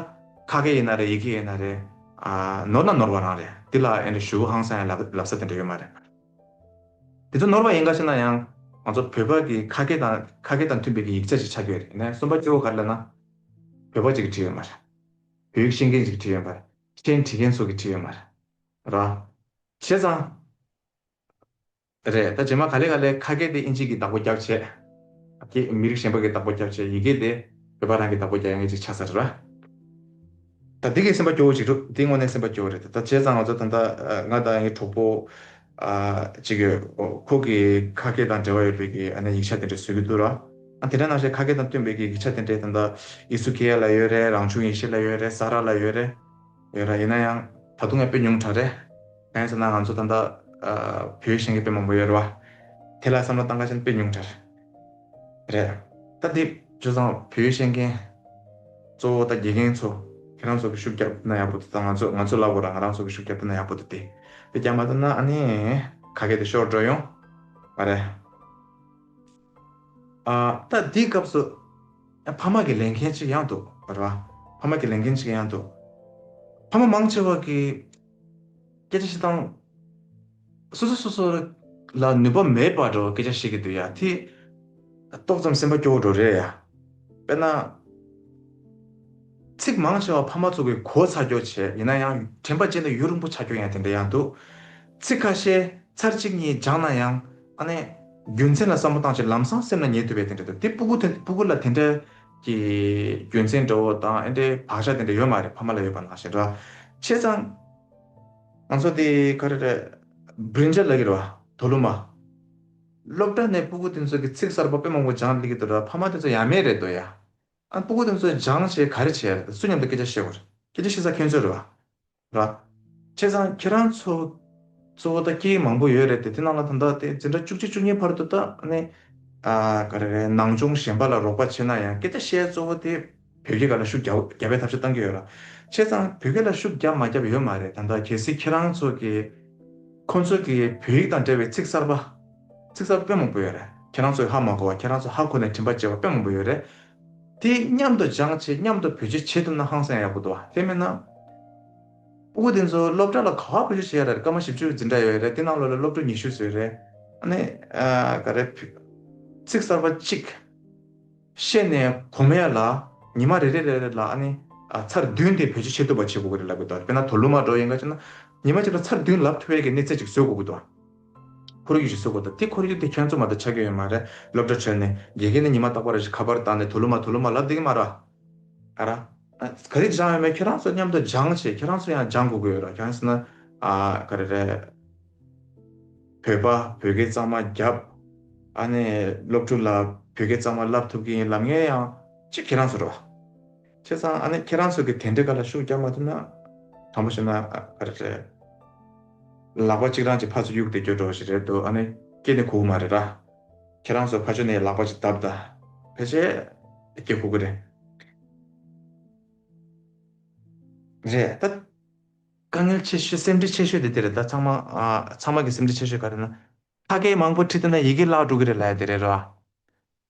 ཁ་སྐད་ཡིན་ན་རེད་ཡིག་སྐད་ཡིན་ན་རེད། ནོར་ན་ནོར་བ་རང་རེད། དེ་ལ་ཨེ་འདྲའི་ཞུ་བོ་ཧང་སང་ཡང་ལབ་ས་དེ་འདྲ་ཡོད་མ་རེད། དེ་ཚོ་ནོར་བ་ཡིན་ག་ཤེ་ན་ཡང། ང་ཚོ་བོད་པ་གི་ཁ་སྐད་དང་ཁ་སྐད་དང་མཐུན་པའི་གི་ཡིག་ཆ་ཞིག་ཆགས་ཀྱི་ཡོད་རེད་ནས་གསུམ་པ་སྐྱོ་བོ་ག་རེད་ལབ་ན། བོད་པ་གཅིག་གིས་བྲིས་ཡོད་མ་རེད། བོད་ཡིག་ཤེས་མཁན་གཅིག་གིས་བྲིས་ཡོད་མ་རེད། ཤེས་འཁྲི་མཁན་ཚོ་གིས་བྲིས་ཡོད་མ་རེད། རེད་བ། བྱས་ཙང། རེད། ད་རྗེས་མ་ག་ལེ་ག་ལེ་ཁ་སྐད་དེ་ཨིན་ཇིག་གི་བདག་པོ་རྒྱག་བྱེད། ཀྱི། མི་རིགས་གཞན་པ་གི་བདག་པོ་རྒྱག་བྱེད་ཡི་གེ་དེ། བོད་པ་རང་གི་བདག་པོ་རྒྱག་ཡ་ངེས་ཅིག་ཆགས་ས་རེད་ར། ད་འདི་གི་སེམས་པ་སྐྱོ་བོ་ཅིག་འདུག་འདི་དངོས་གནས་སེམས་པ་སྐྱོ་བོ་རེད་ད་བྱས་ཙང་ང་ཚོ་ད་ལྟ་ང་དང་ཡང་གི་གྲོགས་པོ། ཅིག་ཡོད། ཁོ་གི་ཁ་སྐད་དང་འབྲེལ་བ་ཡོད་པའི་གི་ཨ་ནི་ཡིག་ཆ་དེ་འདྲ་བཟོས་གི་འདུག་ར། ཨ་དེ་འདྲ་ནང་བཞིན་ཁ་སྐད་དང་བསྟུན་པའི་གི་ཡིག་ཆ་དེ་འདྲ་ད་ལྟ། ཨི་སུ་ཀེ་ཡ་ལ་ཡོད་རེད་རང་བྱུང་ཡེ་ཤེས་ལ་ཡོད་རེད་ས་ར་ལ་ཡོད་རེད། ཡོད་ར་ཡིན་ན་ཡང་ད་དུང་ཡང་དཔེ་ཉུང་དྲག་རེད། གང་ཡིན་ཟེར་ན་ང་ཚོ་ད་ལྟ་བོད་གཞན་གྱི་དཔེ་མང་པོ་ཡོད་རེད་བ། དེ་ལ་བསམ་བློ་བཏང་ཁ་ཆེན་དཔེ་ཉུང་དྲག་རེད། ད་འདི་བྱོས་ཙང་བོད་གཞན་མཁན། གཙོ་བོ་ད་དགེ་རྒན་ཚོ་ཁྱེད་རང་ཚོ་གི་ཤུགས་རྒྱབ་ན་ཡག་པོ་འདུག་ད་ང་ཚོ་ང་ཚོ་ལབ་གོ་ར་ང་རང་ཚོ་གི་ཤུགས་རྒྱབ་ན་ཡག་པོ་འདུག་དེ་རྒྱབ་མ་ཐུབ་ན་ཨ་ནི་ག་གེ་དེ་ཤོར་འགྲོ་ཡོང་བ་རེད། ད་འདིའི་སྐབས་སུ། ཕ་མ་གི་ལས་འགན་ཅིག་ཡང་འདུག་བར་བ། ཕ་མ་གི་ལས་འགན་ཅིག་ཡང་འདུག། ཕ་མ་མང་ཆེ་བ་གིས། སྐད་ཆ་ཞིག་དང། སོ་སོ་སོ་སོ་ལ་ནུས་པ་མེད་པར་འགྲོ་བ་སྐད་ཆ་བཤད་ཀྱི་འདུག་ཡ་དེ། ཏོག་ཙམ་སེམས་པ་སྐྱོ་བོ་འགྲོ་རེད་ཡ། དཔེར་ན། ཚིག་མང་ཆེ་བ་ཕ་མ་ཚོ་གི་གོ་ཚ་རྒྱོ་ཆེ་ཡིན་ན་ཡང་དྲན་པ་ཅན་དུ་ཡུན་རིང་པོ་ཆ་རྒྱོ་ཡང་དེ་འདྲ་ཡང་འདུག་ཚིག་ཁ་ཤས་ཚར་གཅིག་གཉིས་སྦྱང་ན་ཡང་ཨ་ནེ། རྒྱུ་མཚན་ལ་བསམ་བློ་བཏང་ཕྱིར་ལམ་སང་སེམས་ལ་ཉལ་ཐུབ་པའི་དེ་འདྲ་འདུག་དེ་སྤུ་གུ་དེ་སྤུ་གུ་ལ་དེ་འདྲ་གི་རྒྱུ་མཚན་འདྲ་བོ་དང་ཨེ་འདྲའི་བག་ཆགས་དེ་འདྲ་ཡོད་མ་རེད་ཕ་མ་ལ་ཡོད་པ་ནང་བཞིན་འདྲ་ཆེ་ཙང། ང་ཚོ་དེ་ག་རེ་རེད། བུན་ཇ་ལ་གིར་བ། དོ་ལུ་མ། སློབ་གྲྭ་ནས་སྤུ་གུ་དེ་ཚོ་གི་ཚིག་གསར་པ་དཔེ་མང་པོ་སྦྱང་སླེ་གི་འདུག་འདྲ་ཕ་མ་དེ་ཚོ་ཡ་མེད་རེད་འདོད་ཡ། ཨ་པོ་དེ་ཚོས་སྦྱང་བྱས་ག་རེ་བྱས་སུ་མཉམ་དུ་སྐད་ཆ་བཤད་དགོས་རེད་སྐད་ཆ་བཤད་ས་ཁྱོད་ཚོ་རེད་བ། བྱས་ཙང་ཁྱེད་རང་ཚོ་གཙོ་བོ་ད་སྐྱིད་མང་པོ་ཡོད་རེད་དེ་དེ་ནང་ལ་ད་ལྟ་དེ་འཛིན་གྲྭ་བཅུ་གཅིག་བཅུ་གཉིས་བར་དུ་ད་ནི་ག་རེ་རེད་ནང་སྦྱོང་གཞན་པ་ལ་རོགས་པ་བྱས་ན་ཡང་སྐད་ཆ་བཤད་གཙོ་བོ་དེ་བོད་སྐད་ག་ལ་ཤུགས་རྒྱག་པའི་ཐབས་ཤེས་གཏང་གི་ཡོད་ར། བྱས་ཙང་བོད་སྐད་ལ་ཤུགས་རྒྱབ་མ་རྒྱབ་ཡོད་མ་རེད་ད་ལྟ་གལ་སྲིད་ཁྱེད་རང་ཚོ་གིས་ཁོང་ཚོ་གིས་བོད་ཡིག་དང་འབྲེལ་བའི་ཚིག་གསར་པ། ཚིག་ཟབ་དཔེ་མང་པོ་ཡོད་རེད། ཁྱེད་རང་ཚོས་ཧ་མ་གོ་བར་ཁྱེད་རང་ཚོ་ཧ་གོ་ནས་དྲིན་པ་བྱེད་པ་དཔེ་མང་པོ་ཡོད་རེད། དེ་མཉམ་དུ་སྦྱངས་བྱས་མཉམ་དུ་བེད་སྤྱོད་བྱེད་ཐུབ་ན་ཧང་སང་ཡག་པོ་འདུག་དེ་མིན་ན། སྤོ་གོ་དེ་ཚོ་སློབ་གྲྭ་ལ་ག་བར་བེད་སྤྱོད་བྱེད་ཡ་རེད་སྐར་མ་བཞི་བཅུ་འཛིན་གྲྭ་ཡོད་རེད་དེ་ནང་ལོ་ལ་སློབ་ཕྲུག་ཉི་ཤུ་ཟོས་རེད། ནི། ག་རེ། ཚིག་གསར་པ་གཅིག། བཤད་ནས་གོ་མ་ཡ་ལ། ཉི་མ་རེ་རེ་རེ་རེ་ལ་ཨ་ནི། ཚར་བདུན་དེ་བེད་སྤྱོད་བྱེད་ཐུབ་པ་བྱེད་གོ་གི་རེད་ལབ་གི་འདུག་དཔེར་ན་དོ་ལུ་མ་འགྲོ་ཡིན་ག་ཅེ་ན། ཉི་མ་གཅིག་ལ་ཚར་བདུན་ལབ་ཐུབ་བའི་གི་གནས་ཚད་ཅིག་བཟོས་གོ་གི་འདུག། ཁོར་ཡུག་ཞིག་བཟོ་དགོས་དང་དེ་ཁོར་ཡུག་དེ་ཁྱོད་ཚོ་མ་ད་ཆ་ཁྱོད་ཡོད་མ་རེད་སློབ་གྲྭ་བྲོས་ནས་དགེ་རྒན་ནི་ཉི་མ་རྟག་པ་རེད་ཞེས་ཁ་པར་བཏང་ནས་དོ་ལུ་མ་དོ་ལུ་མ་ལབ་དེ་གི་མ་ར་ག་ར། ག་རི་སྦྱང་ཡོད་མེད་ཁྱོད་རང་ཚོ་མཉམ་དུ་སྦྱང་བྱས་ཁྱོད་རང་ཚོ་ཡང་སྦྱང་དགོས་ཀྱི་ཡོད་ར་གྱང་སྲིད་ན་ཨ་ག་རེ་རེད། བོད་པ་བོད་སྐད་གཙང་མ་རྒྱབ་ཨ་ནས་སློབ་ཕྲུག་ལ་བོད་སྐད་གཙང་མ་ལབ་ཐུབ་ཀྱི་ཡིན་ལབ་ངེས་ཡང་ཅི་ཁྱོད་རང་ཚོ་ར། ཁྱེད་ཚང་ཨ་ནི་ཁྱེད་རང་ཚོ་གི་དེ་འདྲི་ག་ལ་ཤུགས་རྒྱག་མ་ཐུབ་ན་དྲང་པོ་བཤད་ན་རེད། ལག་པ་གཅིག་རང་གྱི་ཕ་ཚོ་གཡུག་ཏེ་སྐྱོད་འགྲོ་བ་ཞིག་རེད་འདུག་ཨ་ནི་སྐྱེས་ནི་ཁུག་མ་རེད་ར། ཁྱེད་རང་ཚོ་ཕ་ཆོས་ནས་ལག་པ་གཅིག་བརྡབ་ད་ཕལ་ཆེར་སྐྱེས་ཁུག་གི་རེད། རེད་ད། དཀའ་ངལ་ཆེ་ཤོས་སེམས་ཁྲལ་ཆེ་ཤོས་དེ་དེ་རེད་ད་ཚང་མ། ཚང་མ་གི་སེམས་ཁྲལ་ཆེ་ཤོས་ག་རེད་ན། ཕ་སྐད་མང་པོ་ཁྲིད་ཐུབ་ན་ཡི་གེ་བརླག་འགྲོ་གི་རེད་ལ་དེ་རེད་ར།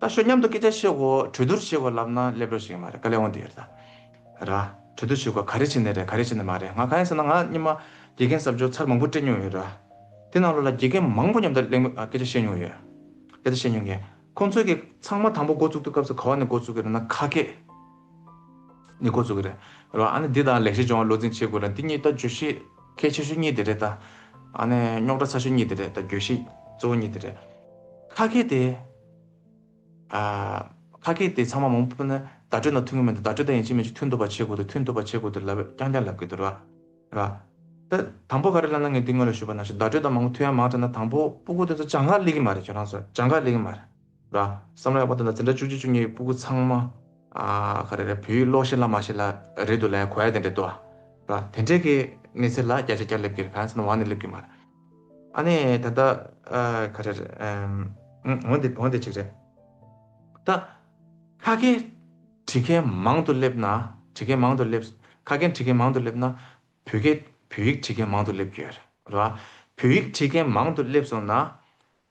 ད་ཤོ་མཉམ་དུ་སྐད་ཆ་བཤད་དགོས་གྲོས་བསྡུར་བྱེད་དགོས་ལབ་ན་སླེབས་རོགས་ཞིག་ཡིན་མ་རེད་དཀའ་ལས་འོང་དེ་ཡོད་ད་ར། གྲོས་བསྡུར་བྱེད་དགོས་ག་རེ་བྱེད་ནི་རེད་ག་རེ་བྱེད་ནི་མ་རེད་ང་གང་ཡིན་ཟེར་ན་ང་གཉིས་མ་དགེ་རྒན་གསར་འབྱོར་ཚར་མང་པོ་སྤྲད་མྱོང་ཡོད་ར། དེ་ནང་ལོ་ལ་དགེ་རྒན་མང་པོ་མཉམ་དུ་གླེང་སྐད་ཆ་བཤད་མྱོང་ཡོད་དེ་ད་བཤད་མྱོང་གི། ཁོང་ཚོས་གི་ཚང་མ་དང་པོ་འགོ་བཙུགས་དུས་སྐབས་སུ་ག་བ་ནས་འགོ་བཙུགས་གི་རེད་ན་ཁ་སྐད། ནི་འགོ་བཙུགས་ཀྱི་རེད། རོ་ཨ་ནི་འདི་དང་ལེགས་བཤད་སྦྱོང་བ་བློ་འཛིན་བྱེད་དགོས་རེད། འདི་གཉིས་ད་བརྗོད་གཞི་གལ་ཆེ་ཤོས་གཉིས་དེ་རེད་ད། ཨ་ནི་རྙོག་དྲ་ཚ་ཤོས་གཉིས་དེ་རེད་ད་བརྗོད་གཞི་གཙོ་བོ་གཉིས་དེ་རེད། ཁ་སྐད་དེ། ཨ། ཁ་སྐད་དེ་ཚང་མ་མང་པོ་ནི་བརྡ་སྤྲོད་ནང་ཐོན་གྱི་མི་འདུག་བརྡ་སྤྲོད་ད་ཡིན་གཅིག་མིན་གཅིག་མཐུན་འདུག་པ་བྱེད་དགོས་འདུག་མཐུན་འདུག་པ་བྱེད་དགོས་འདུག་ལབ་རྐྱང་རྐྱང་ལབ་དགོས་འདུག་རེད། རེད་ད། དང་པོ་ག་རེ་ལབ་ན་ངས་འདི་སྔོན་ལ་ཞུས་པ་ནང་བཞིན་བརྡ་སྤྲོད་ད་མང་པོ་མཐུན་ཡང་མང་དྲགས་ན་དང་པོ་པོ་ཀོ་དེ་ཚོ་བྱང་ཁ་གླེགས་ཀྱི་མ་རེད་ཁྱོད་རང་ཚོ་བྱང་ཁ་གླེགས་ཀྱི་མ་རེད། ལ། བསམ་བློ་ཡག་པོ་དེ་ལ་འཛིན་གྲྭ་བཅུ་གཅིག་བཅུ་གཉིས་ཀྱི་སྤུ་གུ་ཚང་མ། ག་རེ་རེད་བོད་ཡིག་ཀློག་ཤེས་ཀླག་མ་ཤེས་ལ་རེད་འདུག་ལའི་གོ་ཡ་དེ་འདྲ་འདུག་ལ། དེ་འདྲའི་གི་གནས་ཚད་ལ་བརྒྱ་ཆ་བརྒྱ་སླེབས་གི་རེད་གང་ཟེར་ན་ཝང་ནས་སླེབས་གི་མ་རེད། ཨ་ནས་ད་ལྟ་ག་རེ་རེད། འོན་ཏེ་འོན་ཏེ་ཅིག་རེད། ད། ཁ་སྐད་བྲིས་མཁན་མང་དུ་སླེབས་ན་བྲིས་མཁན་མང་དུ་སླེབས། ཁ་སྐད་བྲིས་མཁན་མང་དུ་སླེབས་ན། བོད་སྐད་བོད་ཡིག་བྲིས་མཁན་མང་དུ་སླེབས་ཀྱི་ཡོད་རེད། ལ། བོད་ཡིག་བྲིས་མཁན་མང་དུ་སླེབས་སོང་ན།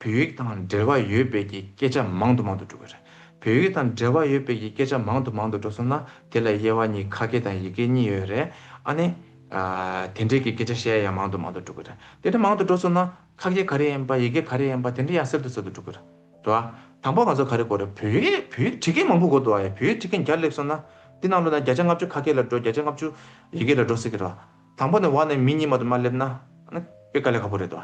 བོད་ཡིག་དང་འབྲེལ་བ་ཡོད་དཔེ་ཀྱི་སྐད་ཆ་མང་དུ་མང་དུ་འགྲོ་གི་རེད། བོད་ཡིག་དང་འབྲེལ་བ་ཡོད་དཔེ་ཀྱི་སྐད་ཆ་མང་དུ་མང་དུ་འགྲོ་སོང་ན་དེ་ལ་དབྱེ་བ་གཉིས་ཁ་སྐད་དང་ཡིག་སྐད་གཉིས་ཡོད་རེད། ཨ་ནི། དེ་འབྲེལ་གྱི་སྐད་ཆ་བཤད་ཡ་ཡང་མང་དུ་མང་དུ་འགྲོ་གི་རེད། དེ་འདྲ་མང་དུ་འགྲོ་སོང་ན་ཁ་སྐད་ག་རེ་ཡིན་པ་ཡིག་སྐད་ག་རེ་ཡིན་པ་དེ་འདྲ་ཡང་སེལ་དུ་སེལ་དུ་འགྲོ་གི་རེད། དྲ་བ། དང་པོ་ང་ཚོ་ག་རེ་གོ་རེད་བོད་ཡིག་བོད་ཡིག་ཁྲི་སྐད་མང་པོ་གོ་འདུག་ཨ་ཡ་བོད་ཡིག་ཁྲི་སྐད་བརྒྱ་སླེབས་སོང་ན། འདི་ནང་ལོ་ན་བརྒྱ་ཆ་ལྔ་བཅུ་ཁ་སྐད་ལ་འགྲོ་བརྒྱ་ཆ་ལྔ་བཅུ་ཡིག་སྐད་ལ་འགྲོ་སྲིད་གི་རེད། དང་པོ་ནས་བ་ནས་མི་གཉིས་མ་དུ་མ་སླེབས་ན། ཨ་ནི་དཔེ་དཀའ་ལས་ཁག་པོ་རེད་དོ།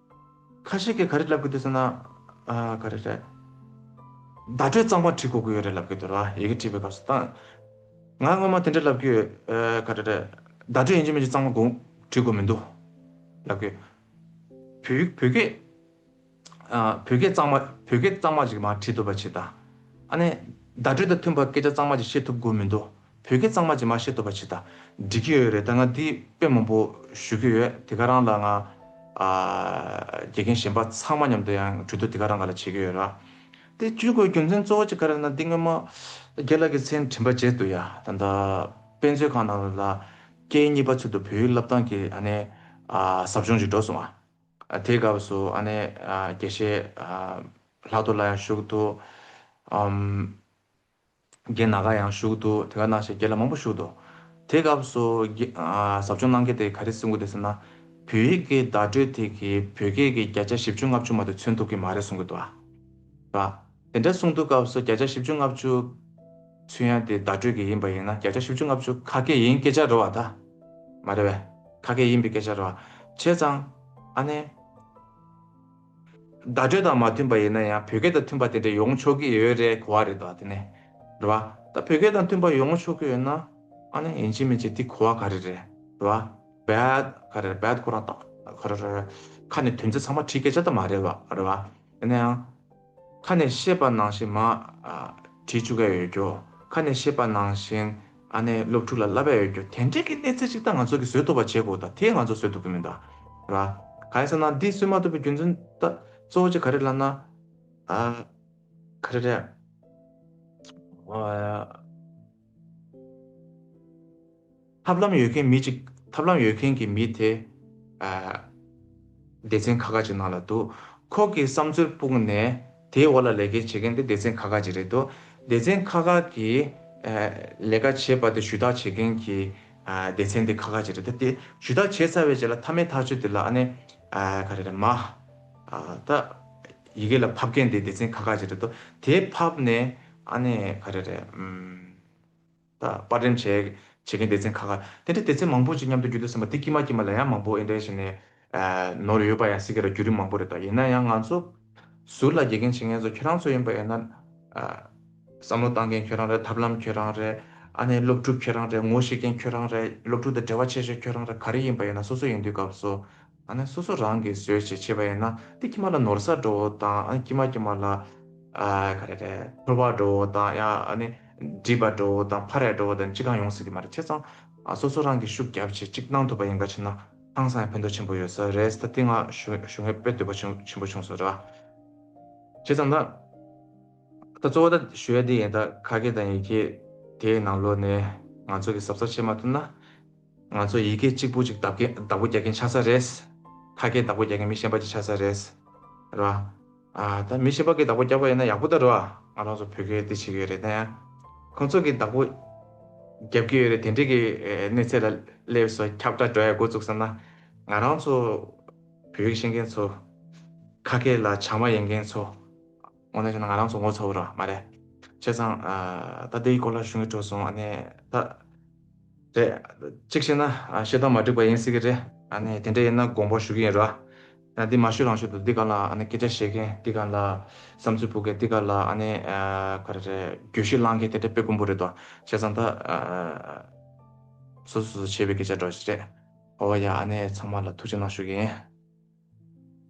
ཁ་ཤས་ཀྱིས་ག་རེ་ལབ་གི་འདུག་ཟེར་ན། ག་རེ་རེད། བརྡ་སྤྲོད་གཙང་མ་བྲིས་གོ་གི་ཡོད་རེད་ལབ་གི་འདུག་ཡི་གེ་བྲིས་པའི་སྐབས་སུ་ད། ང་སྔོན་མ་དེ་འདྲ་ལབ་གི་ཡོད། ག་རེ་རེད། བརྡ་སྤྲོད་ཡིན་གྱི་མིན་གྱི་གཙང་མ་དགོངས་བྲིས་གོ་མི་འདུག་ལབ་གི་ཡོད། བོད། བོད་སྐད། བོད་སྐད་གཙང་མ་བོད་སྐད་གཙང་མ་ཞིག་མ་བྲིས་འདུག་པ་ཕྱིར་ད། ཨ་ནི། བརྡ་སྤྲོད་དང་མཐུན་པར་སྐད་ཆ་གཙང་མ་ཞིག་བཤད་ཐུབ་གོ་མི་འདུག་བོད་སྐད་གཙང་མ་གཅིག་མ་ཤེས་སྟོབས་པ་ཆེ་ད། འགྲིག་གི་ཡོད་རེད་ད་ང་འདི་དཔེ་མང་པོ་ཞུ་གི་ཡོད་དེ་ག་རང་ལ་ང། དགེ་རྒན་གཞན་པ་ཚང་མ་མཉམ་དུ་ཡང་གྲོས་བསྡུར་དེ་ག་རང་ག་ལ་བྱེད་ཀྱི་ཡོད་ར། དེ་བཅུ་དགོས་རྒྱུ་མཚན་གཙོ་བོ་གཅིག་ག་རེད་ན་འདི་སྔོན་མ། རྒྱལ་ལགས་ཀྱི་མཚན་དྲིན་པ་བརྗེད་འདུག་ཡ་ད་ལྟ་དཔེ་མཛོད་ཁང་ནང་ལ། སྐད་གཉིས་པ་ཚུལ་དུ་བོད་ཡིག་བསླབ་སྟངས་ཀྱི་ཨ་ནི། ཟབ་སྦྱོང་ཞིག་འགྲོ་སོང་ང། དེའི་སྐབས་སུ་ཨ་ནི་དགེ་བཤེས། ལྷག་ཏུ་ལ་ཡང་ཞུགས་འདུག། རྒན་ན་ག་ཡང་བཞུགས་འདུག་དེ་ག་ན་ཞེས་རྒན་ལ་མང་པོ་བཞུགས་འདུག་དེ་སྐབས་སུ། ཟབ་སྦྱོང་གནང་མཁན་དེ་ག་རེ་སེམས་ཁུར་དེ་ཟེར་ན། བོད་ཡིག་གི་བརྡ་སྤྲོད་དེ་གིས་བོད་སྐད་ཀྱི་བརྒྱ་ཆ་བཞི་བཅུ་ལྔ་བཅུ་མ་དེ་མཚོན་ཐུབ་ཀྱི་མ་རེད་གསུང་གི་འདུག་ཨ། དེ་འདྲ་གསུང་འདུག་སྐབས་སུ་བརྒྱ་ཆ་བཞི་བཅུ་ལྔ་བཅུ་མཚོན་ཡ་དེ་བརྡ་སྤྲོད་ཀྱི་ཡིན་པ་ཡིན་ན་བརྒྱ་ཆ་བཞི་བཅུ་ལྔ་བཅུ་ཁ་སྐད་ཡིན་སྐད་ཆ་རེད་བ་ད། མ་རེད་བས། ཁ་སྐད་ཡིན་པའི་སྐད་ཆ་རེད་བ། བྱས་ཙང། ཨ་ནེ། བརྡ་སྤྲོད་དང་མ་མཐུན་པ་ཡིན་ན་ཡང་བོད་སྐད་དང་མཐུན་པ་དེ་འདྲ་ཡོང་ཆོག་གི་ཡོད་རེད་གོ་བ་རེད་དོ་དེ་ནས་རེད་བ། ད་བོད་སྐད་དང་མཐུན་པ་ཡོང་ཆོག་གི་ཡོད་ན་ཨ་ནི་ཡིན་གཅིག་མིན་གཅིག་དེ་གོ་བ་ག་རེ་རེད་རེད་བ། bad ག་རེ་རེད bad ཁོ་རང་ཏག་ཏག་ག་རེ་རེད་རེད། ཁ་ནས་དོན་ཚིག་ཚང་མ་བྲིས་སྐད་ཆ་དེ་མ་རེད་བ་རེད་བ། ཡིན་ན་ཡང། ཁ་ནས་བཤད་པ་ནང་བཞིན་མ་བྲིས་བཅུག་ག་ཡོད་རྒྱོ། ཁ་ནས་བཤད་པ་ནང་བཞིན། ཨ་ནེ་སློབ་ཕྲུག་ལ་བསླབ་ཡ་ཡོད་རྒྱུ་དེ་འདྲས་ཀྱི་གནས་ཚད་ཅིག་ད་ང་ཚོ་གི་བཟོས་ཐུབ་པ་བྱེད་དགོས་ད་དེ་ང་ཚོ་བཟོས་ཐུབ་ཀྱི་མིན་ད། ར། ག་ཡིན་ཟེར་ན་འདི་བཟོས་མ་ཐུབ་པའི་རྒྱུ་མཚོན་ད་གཙོ་བོ་ཆེ་ག་རེད་ལབ་ན། ཨ། ག་རེ་རེད། ཐབས་ལམ་ཡོད་མཁན་མི་ཅིག་ཐབས་ལམ་ཡོད་མཁན་གྱི་མི་དེ། ཨ། སྡེ་ཚན་ཁ་ཁ་ཅིག་ནང་ལ་འདུག་ཁོ་གི་བསམ་ཚུལ་སྤུངས་ནས། དེའི་འོག་ལ་ལས་ཀའི་བྱེད་མཁན་དེ་སྡེ་ཚན་ཁག་ཁག་ཅིག་རེད་འདུག་སྡེ་ཚན་ཁག་ཁག་གིས། ལས་ཀ་བྱེད་པ་དེ་ཞུ་དག་བྱེད་མཁན་གྱི། སྡེ་ཚན་དེ་ཁག་ཁག་ཅིག་རེད་ད། དེ་ཞུ་དག་བྱས་ཚར་བའི་རྗེས་ལ་མཐའ་མའི་ཐག་གཅོད་དེ་ལ་ཨ་ནེ། ག་རེ་རེད་མ། ད། ཡི་གེ་ལ་ཕབ་མཁན་དེ་སྡེ་ཚན་ཁག་ཁག་ཅིག་རེད་འདུག་དེ་ཕབ་ནས་ཨ་ནེ། ག་རེ་རེད། པར་འགྲེམས་བྱས། བྱེད་མཁན་སྡེ་ཚན་ཁག་ཁག་དེ་འདྲའི་སྡེ་ཚན་མང་པོ་ཅིག་མཉམ་དུ་རྒྱུད་དུ་སོང་བ་དེ་དཀྱིས་མ་དཀྱིས་མ་ལ་ཡང་མང་པོ་འདྲའི་ཞིག་ནས། ནོར་ཡོད་པ་ཡང་སྲིད་ཀྱི་ར་རྒྱུད་རིམ་མང་པོ་རེད་ད་ཡིན་ན་ཡང་ང་ཚོ། ཟུར་ལ་དགྱེས་མཁན་བྱེད་མཁན་ཚོ་ཁྱོད་རང་ཚོ་ཡིན་པ་ཡིན་ན། བསམ་བློ་བཏང་མཁན་ཁྱོད་རང་རེད་ཐབས་ལམ་ཁྱོད་རང་རེད། ཨ་ནེ་སློབ་ཕྲུག་ཁྱོད་རང་རེད་ངོ་ཤེས་མཁན་ཁྱོད་རང་རེད་སློབ་ཕྲུག་དང་འབྲེལ་བ་ཆེ་ཤོས་ཁྱོད་རང་རེད་ག་རེ་ཡིན་པ་ཡིན་ན་སོ་སོ་ཡིན་དུས་སྐབས་སོ། ཨ་ནི་སོ་སོ་རང་གིས་ཟོས་ཞེས་བྱས་པ་ཡིན་ན་དེ་ཁྱིམ་ལ་ནོར་སར་འགྲོ་བོ་དང་ཨ་ནི་ཁྱིམ་མ་ཁྱིམ་མ་ལ། ག་རེ་རེད་ཕོར་བར་འགྲོ་བོ་དང་ཡ་ཨ་ནི་སྒྲིབ་པར་འགྲོ་བོ་དང་ཕ་རེར་འགྲོ་བོ་དང་ཅི་གང་ཡོང་སྲིད་ཀྱི་མ་རེད་བྱས་ཙང། སོ་སོ་རང་གིས་ཤུགས་རྒྱབ་ཆེད་ཅིག་གནང་ཐུབ་པ་ཡིན་ག་ཕྱིན་ན་ཧང་སང་ཡང་ཕན་ཐོག་ཆེན་པོ་ཡོད་ས་རེད་ད་དེ་སྔ་ཞུ་སྔས་དཔེ་འདོད་པ་ཆེན་པོ་བྱུང་སོང་ར། བྱས་ཙང་ད། ད་གཙོ་བོ་ད་ཞུ་ཡ་དེ་ཡིན་ད་ཁ་སྐད་དང་ཡི་གེ་དེའི་ནང་ལོགས་ནས་ང་ཚོ་གིས་ཟབ་ས་བྱེད་མ་ཐུབ་ན། ང་ཚོ་ཡི་གེ་གཅིག་པོ་གཅིག་བདག་པོ་རྒྱག་མཁན་ཆགས་ས་རེད། ཁ་སྐད་བདག་པོ་རྒྱག་མཁན་མི་གཞན་པ་གཅིག་ཆགས་ས་རེད། རེད་བ། ད་མི་གཞན་པ་གིས་བདག་པོ་རྒྱག་པ་ཡིན་ན་ཡག་པོ་ད་རེད་བ། ང་རང་ཚོ་བོད་སྐད་བདེ་བྱེད་ཀྱི་ཡོད་རེད་དེ། ཁོང་ཚོ་གིས་བདག་པོ་རྒྱབ་ཀྱི་ཡོད་རེད་དེ་འདྲའི་གི་གནས་ཚད་ལ་སླེབས་སོ་ཁྱབ་བསྒྲགས་འགྲོ་ཡག་འགོ་བཙུགས་ས་ན། ང་རང་ཚོ་བོད་ཡིག་ཤེས་མཁན་ཚོ། ཁ་སྐད་ལ་བྱང་མ་ཡིན་མཁན་ཚོ། ངོ་ནས་བཤད་ན་ང་རང་ཚོ་ངོ་ཚ་བོ་རང་མ་རེད། བྱས་ཙང་ད་དེའི་སྐོར་ལ་གཞུང་གི་བྲོས་སོང་ཨ་ནས་ད། རེད། གཅིག་བཤད་ན་བཤད་སྟངས་མ་འགྲིག་པ་ཡིན་སྲིད་གི་རེད། ཨ་ནས་དེ་འདྲ་ཡིན་ན་དགོངས་པ་ཞུ་གི་ཡིན་རོགས། ཡང་འདི་མ་ཞུས་རང་ཞུས་འདུག་འདི་ག་ལ་ཨ་ནས་སྐད་ཆ་བཤད་མཁན་འདི་ག་ལ་བསམ་ཚུལ་འཕོ་མཁན་འདི་ག་ལ་ཨ་ནས་ག་རེ་རེད་གྱོད་གཞི་བསླང་མཁན་དེ་འདྲ་དཔེ་དཀོན་པོ་རེད་དོ། བྱས་ཙང་ད། སོ་སོས་བྱས་པའི་སྐད་ཆ་སྒྲོག་བཞིན་རེད། ཨོ་ཡ་ཨ་ནས་ཚང་མ་ལ་ཐུགས་རྗེ་གནང་ཞུ་གི་ཡིན།